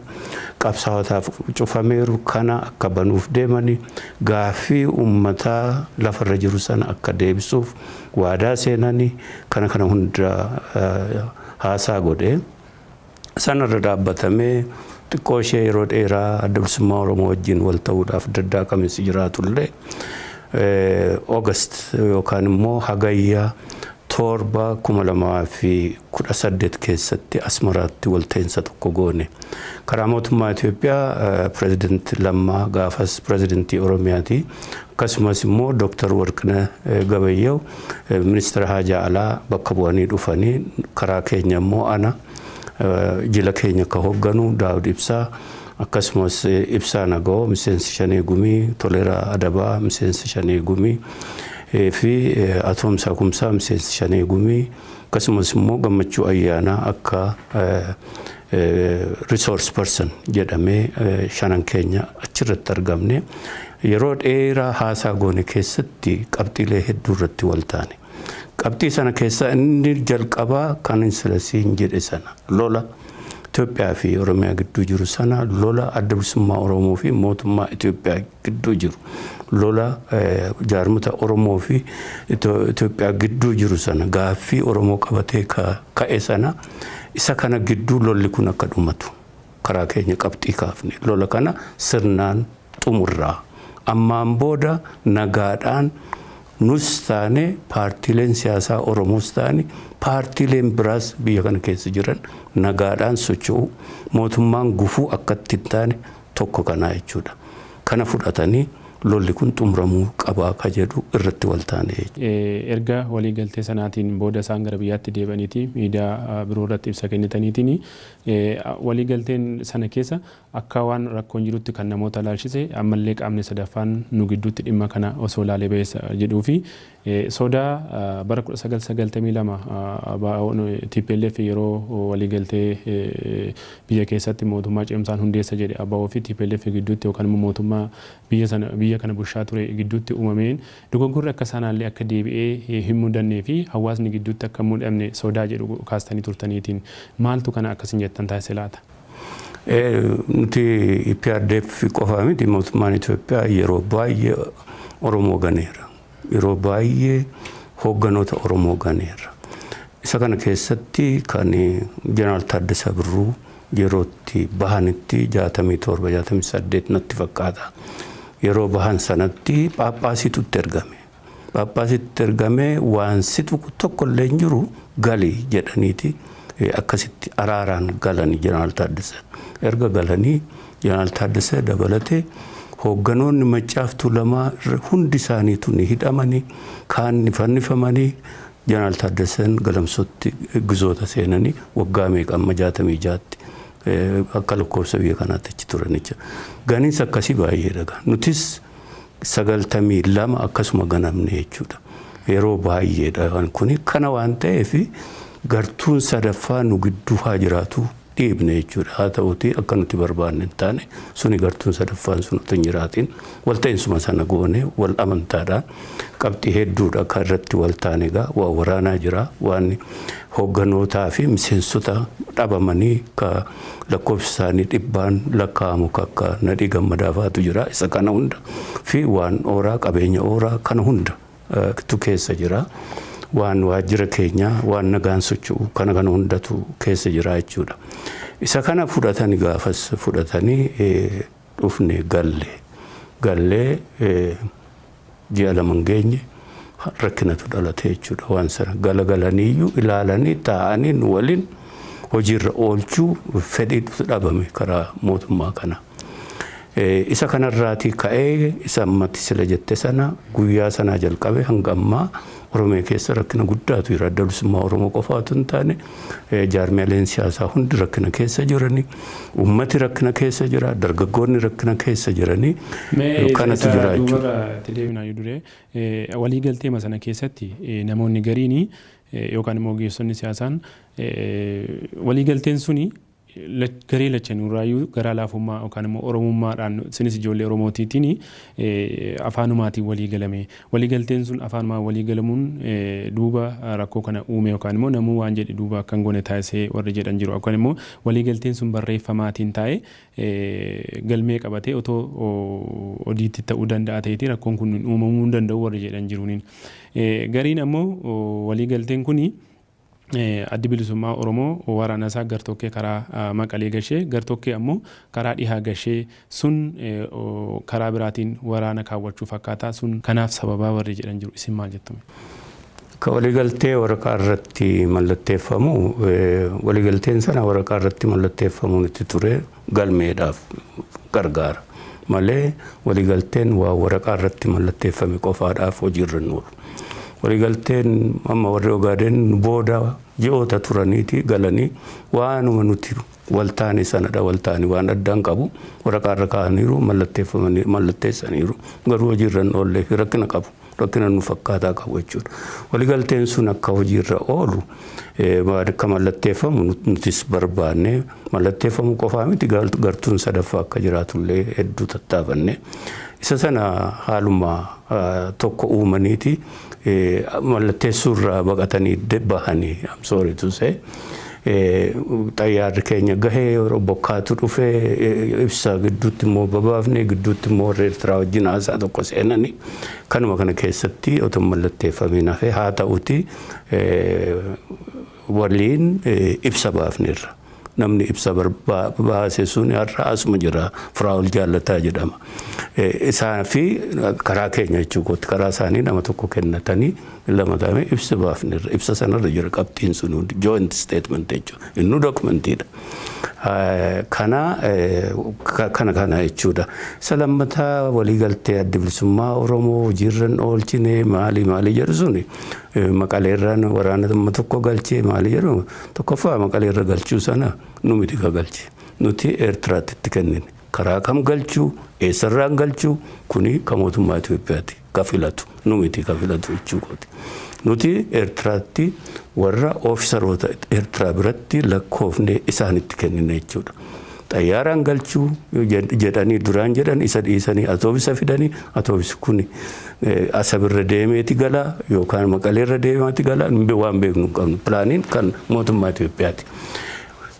[SPEAKER 1] qabsaawotaaf cufameeru kana akka banuuf deeman gaaffii uummataa lafarra jiru sana akka deebisuuf waadaa seenan kana kana hunda haasaa godhe. Sana irra dhaabbatamee xiqqoo ishee yeroo dheeraa adda bilisummaa Oromoo wajjin wal ta'uudhaaf daddaaqaminsi jiraatullee August yookaan immoo Hagayya torba kuma lamaa fi kudha saddeet keessatti Asmaraatti walta'iinsa tokko goone. Karaa mootummaa Itoophiyaa pirezidanti Lammaa gaafas pirezidantii Oromiyaati. Akkasumas immoo Dr. Warqinah Gabayyew Ministira Haajaa Alaa bakka bu'anii dhufanii karaa keenya immoo ana jila keenya ka hogganu Daawud Ibsaa akkasumas Ibsaa Nagawoo miseensa Shanee Gumii, Toleraa Adabaa miseensa Shanee Gumii fi Atoomsaa Kumsaa miseensa Shanee Gumii akkasumas immoo Gammachuu Ayyaanaa akka resource person jedhamee shanan keenya achirratti argamne yeroo dheeraa haasaa goone keessatti qabxiilee hedduu irratti wal taane. Qabxii sana keessaa inni jalqabaa kan insilasiin jedhe sana lola Itoophiyaa fi Oromiyaa gidduu jiru sana lola adda bilisummaa Oromoo fi mootummaa Itoophiyaa gidduu jiru lola jaarmota Oromoo fi Itoophiyaa gidduu jiru sana gaaffii Oromoo qabatee ka'e sana Isa kana gidduu lolli kun akka dhumatu karaa keenya qabxii kaafne. Lola kana sirnaan xumurraa. Ammaan booda nagaadhaan nus taane paartiileen siyaasaa Oromoos taane paartiileen biraas biyya kana keessa jiran nagaadhaan socho'uu, mootummaan gufuu akka itti hin taane tokko kanaa jechuudha. Kana fudhatanii lolli kun xumuramuu qabaa ka jedhu irratti wal taane jechuudha. Erga
[SPEAKER 2] walii galtee sanaatiin booda isaan gara biyyaatti deebi'aniiti miidiyaa biroo irratti ibsa kennitaniitiini. Walii galteen sana keessa akka waan rakkoon jirutti kan namoota ilaalchise ammallee qaamni sadaffaan nu gidduutti dhimma kana osoo ilaalee bayeessa jedhuu fi Soda bara 1992 ABOn tplf yeroo waliigaltee biyya keessatti mootummaa cimsaan hundeessa jedhe abo fi tplf gidduutti yookaan immoo mootummaa biyya sana biyya kana bushaa ture gidduutti uumameen dogoggorri akka saanaallee akka deebi'ee hin mudannee fi hawaasni gidduutti akka hin mudamne sodaa jedhu kaastanii turtaniitiin maaltu kana akka isin jettan taasise laata?
[SPEAKER 1] Nuti EPRDF qofaa miti mootummaan Itoophiyaa yeroo baay'ee Oromoo ganeera. Yeroo baay'ee hoogganoota Oromoo ganeerra. Isa kana keessatti kan Jeneraal Taaddasaa Birruu yeroo itti bahanitti 67, 68 natti fakkaata. Yeroo bahan sanatti Phaaphaasiitu itti ergame. Phaaphaasiitu itti ergamee waan si tuqu tokko illee hin jiru gali jedhaniiti akkasitti araaraan galani Jeneraal Taaddasaan. Erga galanii Jeneraal Taaddasee dabalatee hoogganoonni Maccaaf Tuulamaa hundi isaaniitu ni hidhamanii, kaan ni fannifamanii, Jeneraal Taaddaseen Galamsootti gizoota seenanii waggaa meeqa amma 66tti akka lakkoofsa biyya kanaatti achi turan jechuudha. Ganiinsi akkasii baay'eedha gaa. Nutis 92 akkasuma ganamne jechuudha. Yeroo baay'eedha waan kuni. Kana waan ta'eef gartuun sadaffaa nu gidduu haa jiraatu. dhiibne jechuudha. Haa ta'uutii akka nuti barbaanne hin taane suni gartuun sadaffaan sun utuu hin jiraatiin walta'insuma sana goone wal amantaadhaan qabxii hedduudha kan irratti wal taane egaa waa waraanaa jira waan hogganootaa fi miseensota dhabamanii ka lakkoofsi isaanii dhibbaan lakkaa'amu kakka nadhii gammadaafa'atu jira isa kana hunda fi waan ooraa qabeenya ooraa kana hunda tu keessa jira. Waan waajjira keenya, waan nagaan socho'u kana kana hundatu keessa jira jechuudha. Isa kana fudhatani gaafas fudhatani dhufne galle. Gallee ji'a lama hin geenye rakkinatu dhalate jechuudha waan sana. Galagalaniiyyuu ilaalanii taa'anii nu waliin hojiirra oolchuu fedhiitu dhabame karaa mootummaa kana. Isa kana irraatii ka'ee isa amma ati sila jette sana guyyaa sanaa jalqabe hanga ammaa Oromiyaa keessa rakkina guddaatu jira. Adda Bilisummaa Oromoo qofaa utuu hin taane jaarmiyaaleen siyaasaa hundi rakkina keessa jirani. Uummati rakkina keessa jira. Dargaggoonni rakkina keessa jirani. Mee Kanatu isa jira jechuudha. duubarra itti deebina yoo dure walii
[SPEAKER 2] galteema sana keessatti namoonni gariini yookaan immoo ogeessonni siyaasaan walii galteen suni garee lachanuurraayyuu garaa laafummaa yookaan immoo Oromummaadhaan isinis ijoollee Oromootiitiin afaanumaatiin walii galame. Walii galteen sun afaanumaan walii galamuun duuba rakkoo kana uume yookaan immoo namuu waan jedhe duuba akka hin goone taasisee warri jedhan jiru. Yookaan immoo walii galteen sun barreeffamaatiin taa'ee galmee qabatee otoo odiitti ta'uu danda'a ta'eeti rakkoon kun uumamuu hin danda'u warri jedhan jiruuniin. Gariin ammoo walii galteen kuni Addi Bilisummaa Oromoo waraana isaa gartokkee karaa Maqalee gashee, gartokkee ammoo karaa dhihaa gashee sun karaa biraatiin waraana kaawwachuu fakkaataa sun kanaaf sababaa warri jedhan jiru. Isin maal jettu mee? Ka
[SPEAKER 1] waliigaltee waraqaa irratti mallatteeffamu, waliigalteen sana waraqaa irratti mallatteeffamuun itti ture. galmeedhaaf gargaara malee waliigalteen waa waraqaa irratti mallatteeffame qofaadhaaf hojiirra hin oolu. Waliigalteen amma warri Ogaadeen nu booda ji'oota turaniiti galanii waanuma nuti waltaane sanadha waltaane waan addaa hin qabu waraqaa irra kaa'aniiru mallatteeffamanii mallatteessaniiru garuu hojiirra hin oollee fi rakkina qabu. rakkina nu fakkaataa qabu jechuudha. Waligalteen sun akka hojiirra oolu akka mallatteeffamu nutis barbaanne mallatteeffamu qofaa miti gartuun sadaffaa akka jiraatullee hedduu tattaafanne. Isa sana haaluma tokko uumaniiti mallatteessuurraa baqatanii bahanii I'm sorry to say. xayyaarri keenya gahee yeroo bokkaatu dhufe ibsaa gidduutti immoo babaafne gidduutti immoo warri Eertiraa wajjin haasaa tokko seenani kanuma kana keessatti otoo mallatteeffamiin hafe haa ta'uti waliin ibsa baafneerra. Namni ibsa baase sun har'a asuma jira Firaa'ol Jaallataa jedhama. Isaa fi karaa keenya jechuudha karaa isaanii nama tokko kennatanii lama taanee ibsa baafnerra. Ibsa sanarra jira qabxiin sun hundi joint statement jechuudha. Innuu dokumentiidha. Kana kana kana jechuudha. Isa lammataa waliigaltee adda bilisummaa Oromoo hojiirran oolchine maali maali jedhu suni maqaleerraan waraana dhimma tokko galchee maali jedhu tokkoffaa maqaleerra galchuu sana nu miti ka galche. Nuti Eertiraatti itti kennine. Karaa kam galchuu eessarraan galchuu kuni ka mootummaa Itoophiyaati. ka filatu. Nu miti ka filatu jechuu kooti. Nuti Ertiraatti warra ofisaroota Ertiraa biratti lakkoofnee isaanitti kennina jechuudha. Xayyaaraan galchuu jedhanii duraan jedhan isa dhiisanii atoobisa fidanii atoobisi kun asabirra deemeeti galaa yookaan maqaleerra deemaati galaa waan beeknu hin qabnu. Pilaaniin kan mootummaa Itoophiyaati.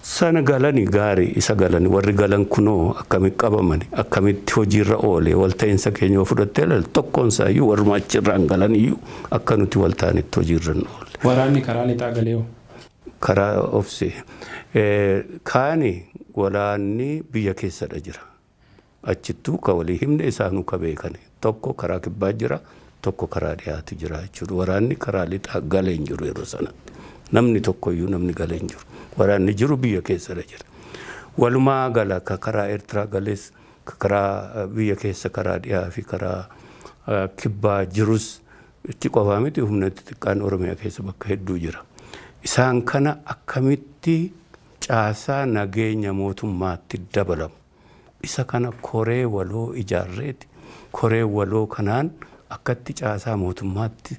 [SPEAKER 1] Sana galani gaari isa galani warri galan kunoo akkami qabamani akkamitti hojiirra oole walta'insa keenya yoo fudhattee ilaalte tokkoon isaayyuu warruma achi irraan galan iyyuu akka nuti wal taanetti hojiirra hin oolle. Waraanni karaa lixaa
[SPEAKER 2] galee hoo? Karaa
[SPEAKER 1] obse. Kaani waraanni biyya keessadha jira. Achittuu ka walii himne isaanuu ka beekane. Tokko karaa kibbaa jira, tokko karaa dhihaati jira jechuudha. Waraanni karaa lixaa gale hin jiru yeroo sanatti. Namni tokkoyyuu namni gale hin jiru. Waraanni jiru biyya keessadha jira. Walumaa gala ka karaa Eertiraa gales, ka karaa biyya keessa karaa dhihaa fi karaa kibbaa jirus itti qofaa miti humna xixiqqaan Oromiyaa keessa bakka hedduu jira. Isaan kana akkamitti caasaa nageenya mootummaatti dabalamu. Isa kana koree waloo ijaarreeti. Koreen waloo kanaan akkatti caasaa mootummaatti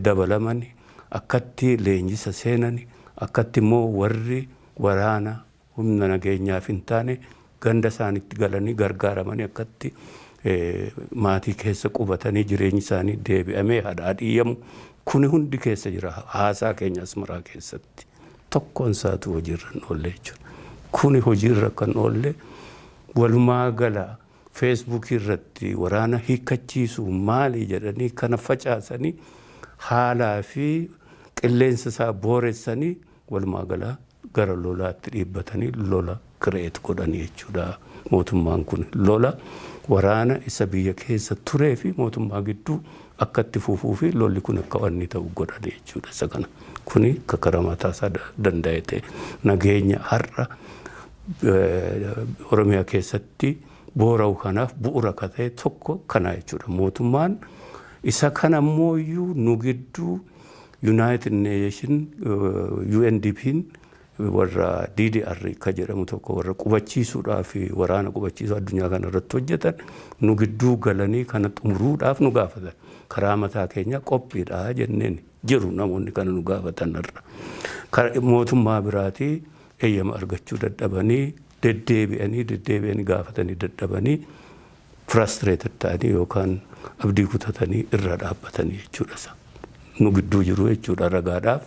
[SPEAKER 1] dabalamani, akkatti leenjisa seenani, akkatti immoo warri waraana humna nageenyaaf hin taane ganda isaanitti galanii gargaaramanii akkatti maatii keessa qubatanii jireenyi isaanii deebi'amee hadhaadhiyyamu kuni hundi keessa jira haasaa keenya Asmaraa keessatti. tokkoon isaatuu hojiirra hin oolle jechuudha. Kuni hojiirra akka hin oolle walumaa gala feesbuukii irratti waraana hiikkachiisu maali jedhanii kana facaasanii haalaa fi qilleensa isaa booressanii walumaa gala gara lolaatti dhiibbatanii lola create godhan jechuudha. Mootummaan kun lola waraana isa biyya keessa turee fi mootummaa gidduu akka itti fufuu fi lolli kun akka wanni ta'u godhan jechuudha. Isa kana kuni akka karaa mataa isaa da- danda'e ta'e nageenya har'a eh, Oromiyaa keessatti boora'u kanaaf bu'uura akka ta'e tokko kana jechuudha. Mootummaan isa kana immoo iyyuu nu gidduu United Nation eh, UNDP'n warra DDR ka jedhamu tokko warra qubachiisuudhaaf waraana qubachiisuu addunyaa kana irratti hojjetan nu gidduu galanii kana xumuruudhaaf nu gaafatan karaa mataa keenyaa qophiidha jenneen jiru namoonni kana nu gaafatan irra Kara- mootummaa biraatii eeyyama argachuu dadhabanii deddeebi'anii deddeebi'anii gaafatanii dadhabanii frustrated ta'anii yookaan abdii kutatanii irra dhaabbatanii jechuudha isa nu gidduu jiru jechuudha ragaadhaaf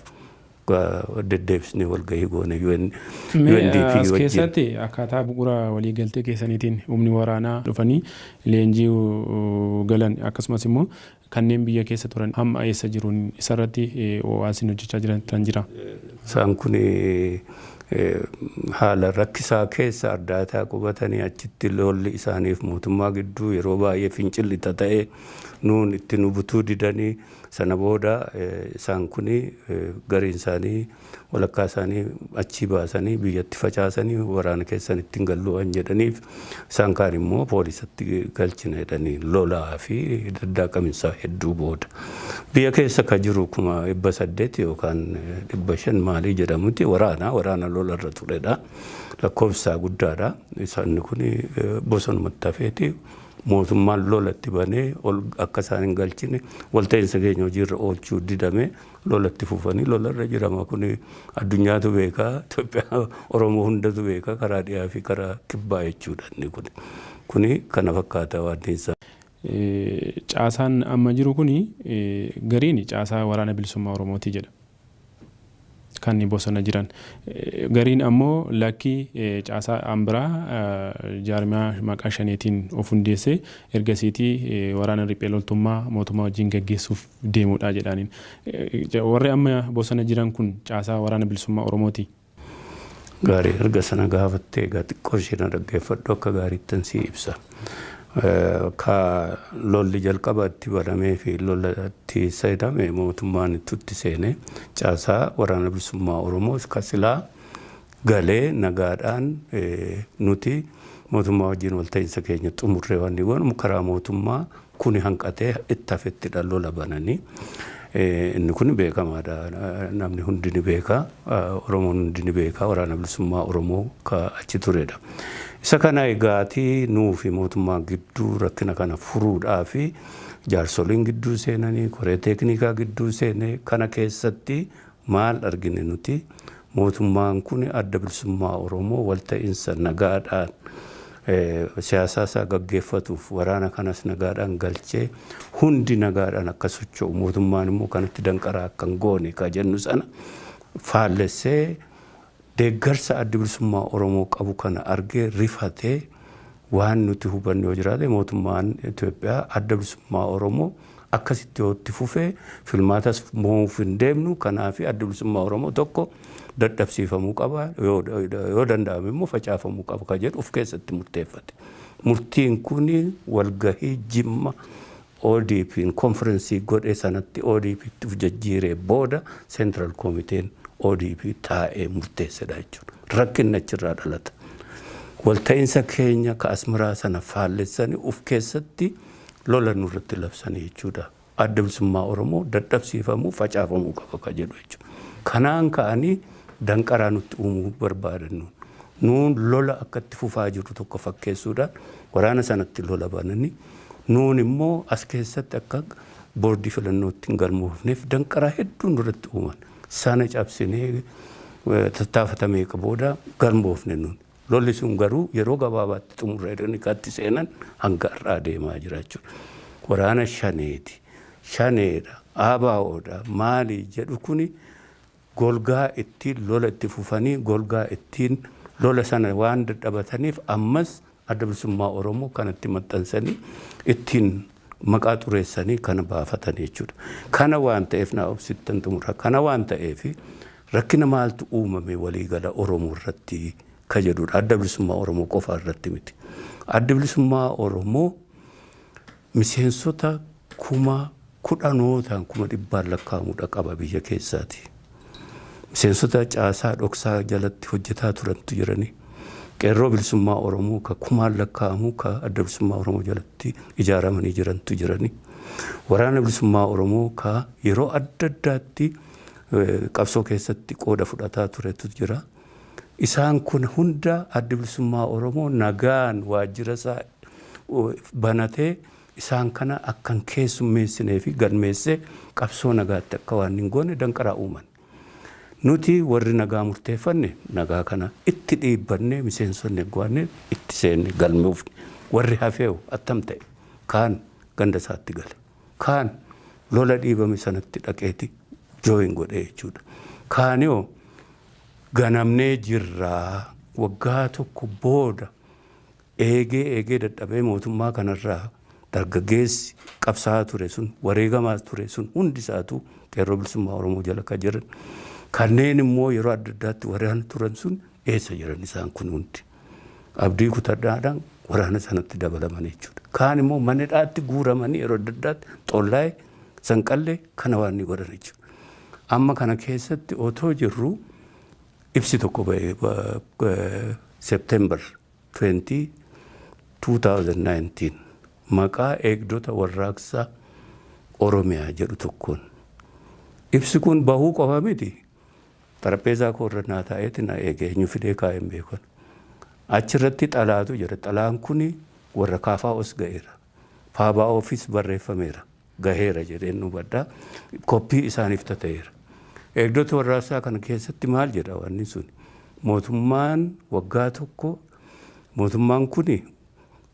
[SPEAKER 1] Deddeebisnee walgahii goone UNDP wajjin. Mee as keessaatti
[SPEAKER 2] akkaataa bu'ura walii galtee keessaniitiin humni waraanaa dhufanii leenjii galan akkasumas immoo kanneen biyya keessa turan hamma eessa jiru isa irratti waa isin hojjechaa jirtan jira? Isaan kun
[SPEAKER 1] haala rakkisaa keessa Ardaataa qubatanii achitti lolli isaaniif mootummaa gidduu yeroo baay'ee fincilli tata'ee nuun itti nu butuu didanii Sana booda isaan kuni gariin isaanii walakkaa isaanii achii baasanii biyyatti facaasanii waraana keessan itti hin gallu waan jedhaniif isaan kaan immoo poolisatti galchina jedhanii lolaa fi daddaaqaminsaa hedduu booda. Biyya keessa ka jiru kuma dhibba saddeet yookaan dhibba shan maalii jedhamuti waraana waraana lola irra turedha. Lakkoofsaa guddaadha. Isaan kuni bosonumatti hafeeti. Mootummaan lola itti banee ol akka isaan hin galchine walta'iinsa keenya hojiirra oolchuu didamee lola itti fufanii lola irra jirama. Kun addunyaatu beeka, Itoophiyaa Oromoo hundatu beeka karaa dhiyaa fi karaa kibbaa jechuudha inni kun. Kuni kana fakkaata waanti isaa.
[SPEAKER 2] Caasaan amma jiru kuni gariin caasaa Waraana Bilisummaa Oromooti jedha. kan bosona jiran. Gariin ammoo lakki caasaa an biraa jaarmiyaa maqaa Shaneetiin of hundeesse ergasiitii waraana riphee loltummaa mootummaa wajjin gaggeessuuf deemudha jedhaaniin. Warri amma bosona jiran kun caasaa Waraana Bilisummaa Oromooti?
[SPEAKER 1] Gaarii erga sana gaafattee egaa xiqqoo ishee na dhaggeeffadhu akka gaariittan sii ibsa. Ka lolli jalqaba itti banamee fi lola itti seename mootummaan itti seenee caasaa waraana bilisummaa Oromoo ka silaa galee nagaadhaan nuti mootummaa wajjin walta'iinsa keenya xumurree waan goonu karaa mootummaa Kuni hanqatee itti hafettidha lola bananii. Inni kun beekamaadha. Namni hundi ni beeka. Oromoon hundi ni beeka. Waraana Bilisummaa Oromoo ka achi turedha. Isa kana egaatii nuufi mootummaan gidduu rakkina kana furuudhaafi jaarsoliin gidduu seenanii, koree teekniikaa gidduu seenee kana keessatti Maal argine nuti? Mootummaan kun Adda Bilisummaa Oromoo walta'insa nagaadhaan siyaasaa isaa gaggeeffatuuf waraana kanas nagaadhaan galchee hundi nagaadhaan akka socho'u mootummaan immoo kanatti danqaraa akka hin goone ka jennu sana faallessee Deeggarsa Addi Bilisummaa Oromoo qabu kana argee rifatee waan nuti hubanne yoo jiraate mootummaan Itoophiyaa Adda Bilisummaa Oromoo akkasitti yoo itti fufe filmaatas moo'uuf hin deemnu kanaafi Addi Bilisummaa Oromoo tokko dadhabsiifamuu qaba yoo danda'ame immoo facaafamuu qaba kan jedhu of keessatti murteeffate. Murtiin kun walgahii Jimma ODPn konfirensii godhe sanatti ODPtti of jajjiiree booda Central Committeen ODP taa'ee murteessedha jechuudha. Rakkinni achirraa dhalata. Walta'iinsa keenya ka Asmaraa sana faallessanii of keessatti lola nurratti labsanii jechuudha. Adda Bilisummaa Oromoo dadhabsiifamuu, facaafamuu qaba ka jedhu jechuudha. Kanaan ka'anii danqaraa nutti uumuu barbaadan nuun. Nuun lola akka itti fufaa jirru tokko fakkeessuudhaan waraana sanatti lola bananii Nuun immoo as keessatti akka boordii filannootti hin galmoofneef danqaraa hedduu nurratti uuman. Sana cabsinee tattaafata meeqa booda galmoofne nuun. Lolli sun garuu yeroo gabaabaatti xumurra jedhanii katti seenan hanga har'aa deemaa jira jechuudha. Waraana shaneeti, shaneedha, ABOdha, maali jedhu kuni golgaa ittiin lola itti fufanii golgaa ittiin lola sana waan dadhabataniif ammas Adda Bilisummaa Oromoo kanatti maxxansanii ittiin maqaa xureessanii kana baafatan jechuudha. Kana waan ta'eef naa obsittan xumura. Kana waan ta'eef rakkina maaltu uumame waliigala Oromoo irratti ka jedhudha. Adda Bilisummaa Oromoo qofa irratti miti. Addi Bilisummaa Oromoo Miseensota kuma kudhanootaan, kuma dhibbaan lakkaa'amu dhaqaba biyya keessaatii. Miseensota caasaa dhoksaa jalatti hojjetaa turantu jiranii. Qeerroo Bilisummaa Oromoo ka kumaan lakkaa'amu ka Adda Bilisummaa Oromoo jalatti ijaaramanii jirantu jiranii. Waraana Bilisummaa Oromoo ka yeroo adda addaatti qabsoo keessatti qooda fudhataa turetu jira. Isaan kun hunda Addi Bilisummaa Oromoo nagaan waajjira isaa banatee isaan kana akka hin keessummeessinee fi galmeessee qabsoo nagaatti akka waan hin goone danqaraa uuman. Nuti warri nagaa murteeffanne nagaa kana itti dhiibbannee miseensonni egguwaanne itti seenne galmoofne. Warri hafeeho attam ta'e? Kaan ganda isaatti gale. Kaan lola dhiibame sanatti dhaqeeti join godhee jechuudha. Kaanihoo ganamnee jirra waggaa tokko booda Eegee eegee dadhabee mootummaa kanarraa dargaggeessi qabsaa'aa ture sun, wareegamaa ture sun hundi isaatu Qeerroo Bilisummaa Oromoo jala kan jiran, kanneen immoo yeroo adda addaatti waraana turan sun eessa jiran isaan kun hundi? Abdii kutadhaadhaan waraana sanatti dabalaman jechuudha. Kaan immoo mana hidhaatti guuramanii yeroo adda addaatti Xollaay, Sanqallee kana waan ni godhan jechuudha. Amma kana keessatti otoo jirru ibsi tokko ba'e September 20, 2019 maqaa Eegdota Warraaqsa Oromiyaa jedhu tokkoon ibsi kun bahuu qofa miti, xarapheezaa koo irra naa taa'eeti na eege, eenyu fidee kaa'e hin beeku ani. Achi irratti xalaatu jira, xalaan kuni warra KFOs ga'eera, FABOfis barreeffameera. gaheera jedheen hubadha. Koppii isaaniif tata'eera. Eegdota warraaqsaa kana keessatti maal jedha wanni sun? Mootummaan waggaa tokko mootummaan kuni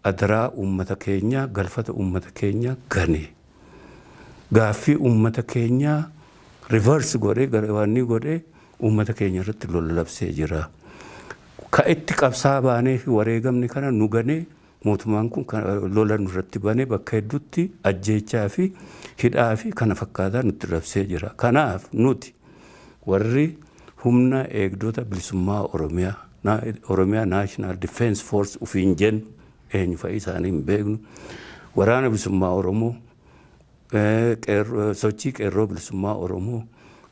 [SPEAKER 1] adaraa uummata keenyaa, galfata uummata keenyaa gane. Gaaffii uummata keenyaa reverse godhee garawaannii godhee uummata keenya irratti lola labsee jira. Ka itti qabsaa baanee fi wareegamni kana nu ganee Mootummaan kun lola nurratti banee bakka hedduutti ajjeechaa fi hidhaa fi kana fakkaataa nutti labsee jira. Kanaaf nuti warri humna eegdota bilisummaa Oromiyaa, Oromia National Defence Force ufiin jennu eenyu fa'i isaanii hin beeknu, waraana bilisummaa Oromoo, sochii Qeerroo Bilisummaa Oromoo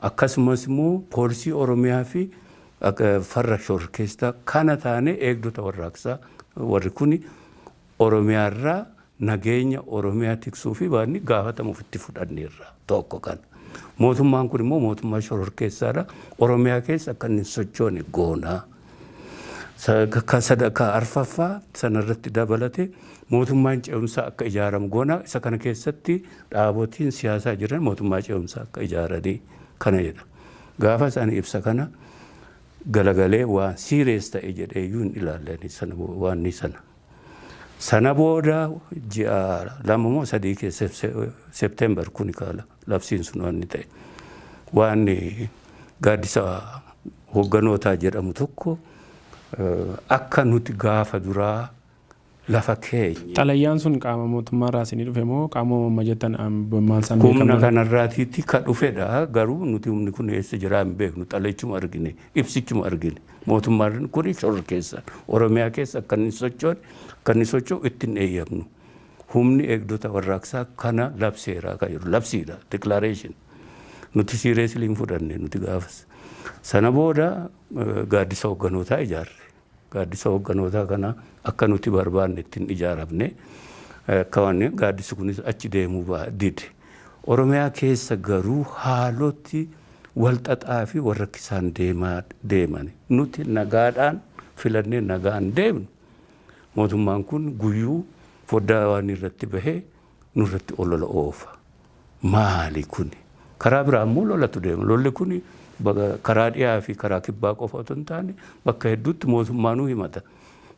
[SPEAKER 1] akkasumas immoo Poolisii Oromiyaa fi farra shororkeessitaa kana taanee eegdota warraaqsaa warri kuni Oromiyaa irraa nageenya Oromiyaa tiksuu fi baanni gaafatamu ofitti fudhanneerra tokko kana. Mootummaan kun immoo mootummaa shororkeessaadha. Oromiyaa keessa akka inni hin sochoone goonaa. Kan sadarkaa arfaffaa sana irratti dabalate mootummaan ce'umsaa akka ijaaramu goona. Isa kana keessatti dhaabotiin siyaasaa jiran mootummaa ce'umsaa akka ijaaranii kana jedha. Gaafa isaan ibsa kana galagalee waan siirees ta'e jedhee iyyuu hin ilaalle sana waan sana. Sana booda ji'a lama moo sadii keessa September kuni kaala labsiin sun waan ta'e. Waan gaaddisa hogganootaa jedhamu tokko akka nuti gaafa duraa lafa keenya. Xalayaan sun qaama
[SPEAKER 2] mootummaa irraa isinii dhufe moo qaamuma amma jettan maal isaan beekamne? Humna kanarraatiitti
[SPEAKER 1] ka dhufedha garuu nuti humni kun eessa jiraa hin beeknu xalaychuma argine ibsichuma argine. Mootummaan kun shororkeessaan Oromiyaa keessa akka inni hin sochoone, akka inni socho'u itti hin eeyyamnu. Humni eegdota warraaqsaa kana labseera kan jedhu labsiidha, declaration. Nuti seriously hin fudhanne nuti gaafas. Sana booda eh, gaaddisa hogganootaa ijaarre. Gaaddisa hogganootaa kana akka nuti barbaanne ittiin ijaaramne eh, akka waan gaaddisi kunis achi deemuu ba- dide. Oromiyaa keessa garuu haaloti walxaxaa fi walrakkisaan deemaa deemani. Nuti nagaadhaan filannee nagaan deemnu mootummaan kun guyyuu foddaa waanii irratti bahee nurratti olola oofa. Maali kuni? Karaa biraa immoo lolatu deema. Lolli kuni karaa dhiyaa fi karaa kibbaa qofa otoo hin taane bakka hedduutti mootummaanuu himata.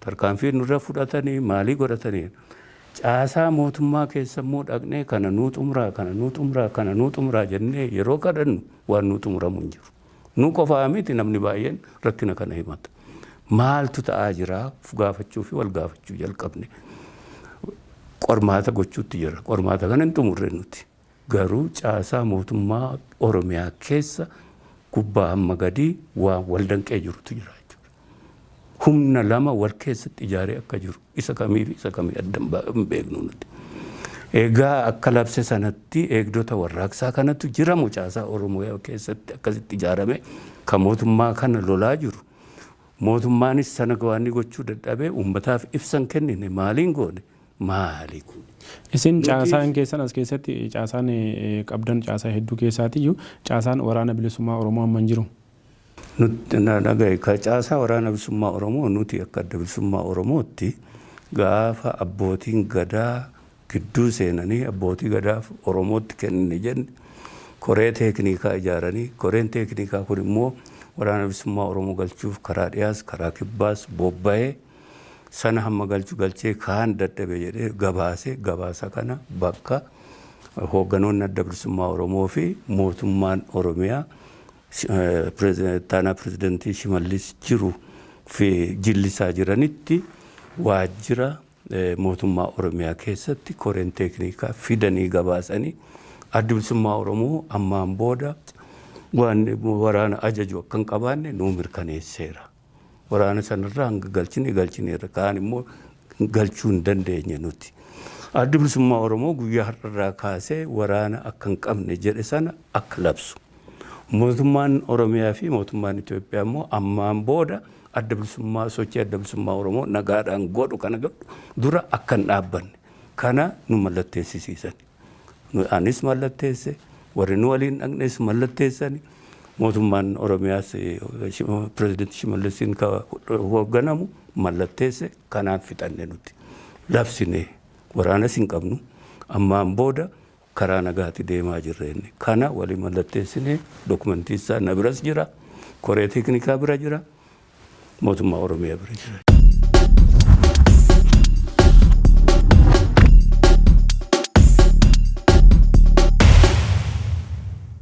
[SPEAKER 1] Tarkaanfii nurra fudhatanii maalii godhatanii caasaa mootummaa keessa immoo dhaqnee kana nuu xumuraa kana nuu xumuraa kana nuu xumuraa jennee yeroo kadhannu waan nuu xumuramu hin jiru. Nu qofaa miti namni baay'een rakkina kana himata. Maaltu ta'aa jira of gaafachuu fi wal gaafachuu jalqabne. Qormaata gochuutti jirra. Qormaata kana hin xumurre nuti. Garuu caasaa mootummaa Oromiyaa keessa gubbaa hamma gadii waan wal danqee jirutu jira jechuudha. Humna lama wal keessatti ijaaree akka jiru isa kamiifi isa kamii adda hin beeknu nuti. Egaa akka labse sanatti eegdota warraaqsaa kanatu jira moo caasaa Oromiyaa keessatti akkasitti ijaarame kan mootummaa kana lolaa jiru. Mootummaanis sana gawaanni gochuu dadhabee uummataaf ibsan kennine maaliin goone maali kuni? Isin caasaan
[SPEAKER 2] keessan as keessatti caasaan qabdan caasaa hedduu keessaatiyyu caasaan Waraana Bilisummaa Oromoo amma hin jiru. Nuti
[SPEAKER 1] na dhaga'i ka caasaa Waraana Bilisummaa Oromoo nuti akka Adda Bilisummaa Oromootti gaafa abbootiin gadaa gidduu seenanii abbootii gadaaf Oromootti kennine jenne koree teekniikaa ijaaranii koreen teekniikaa kun immoo Waraana Bilisummaa Oromoo galchuuf karaa dhiyaas karaa kibbaas bobba'ee sana hamma galchu galchee kaan dadhabe jedhee gabaase gabaasa kana bakka hoogganoonni adda bilisummaa Oromoo fi mootummaan Oromiyaa taanaa pirezidantii Shimallis jiru fi jillisaa jiranitti waajjira mootummaa Oromiyaa keessatti koreen teeknikaa fidanii gabaasanii adda bilisummaa Oromoo ammaan booda waan waraana ajaju akka hin qabaanne nuu mirkaneesseera. Waraana sanarraa hanga galchine galchineerra. Kaan immoo galchuu hin dandeenye nuti. Addi Bilisummaa Oromoo guyyaa har'arraa kaasee waraana akka hin qabne jedhe sana akka labsu. Mootummaan Oromiyaa fi mootummaan Itoophiyaa immoo ammaan booda adda bilisummaa sochii adda bilisummaa Oromoo nagaadhaan godhu kana godhu dura akka hin dhaabbanne kana nu mallatteessisiisan. Anis mallatteesse, warri nu waliin dhaqnes mallatteessani. Mootummaan Oromiyaas pirezidantii Shimallisiin ka hoogganamu mallatteesse kanaan fixanne nuti. Labsine waraanas hin qabnu. Ammaan booda karaa nagaati deemaa jirra inni. Kana walii mallatteessine dokumentii isaa na biras jira. Koree teeknikaa bira jira. mootummaa Oromiyaa bira jiran.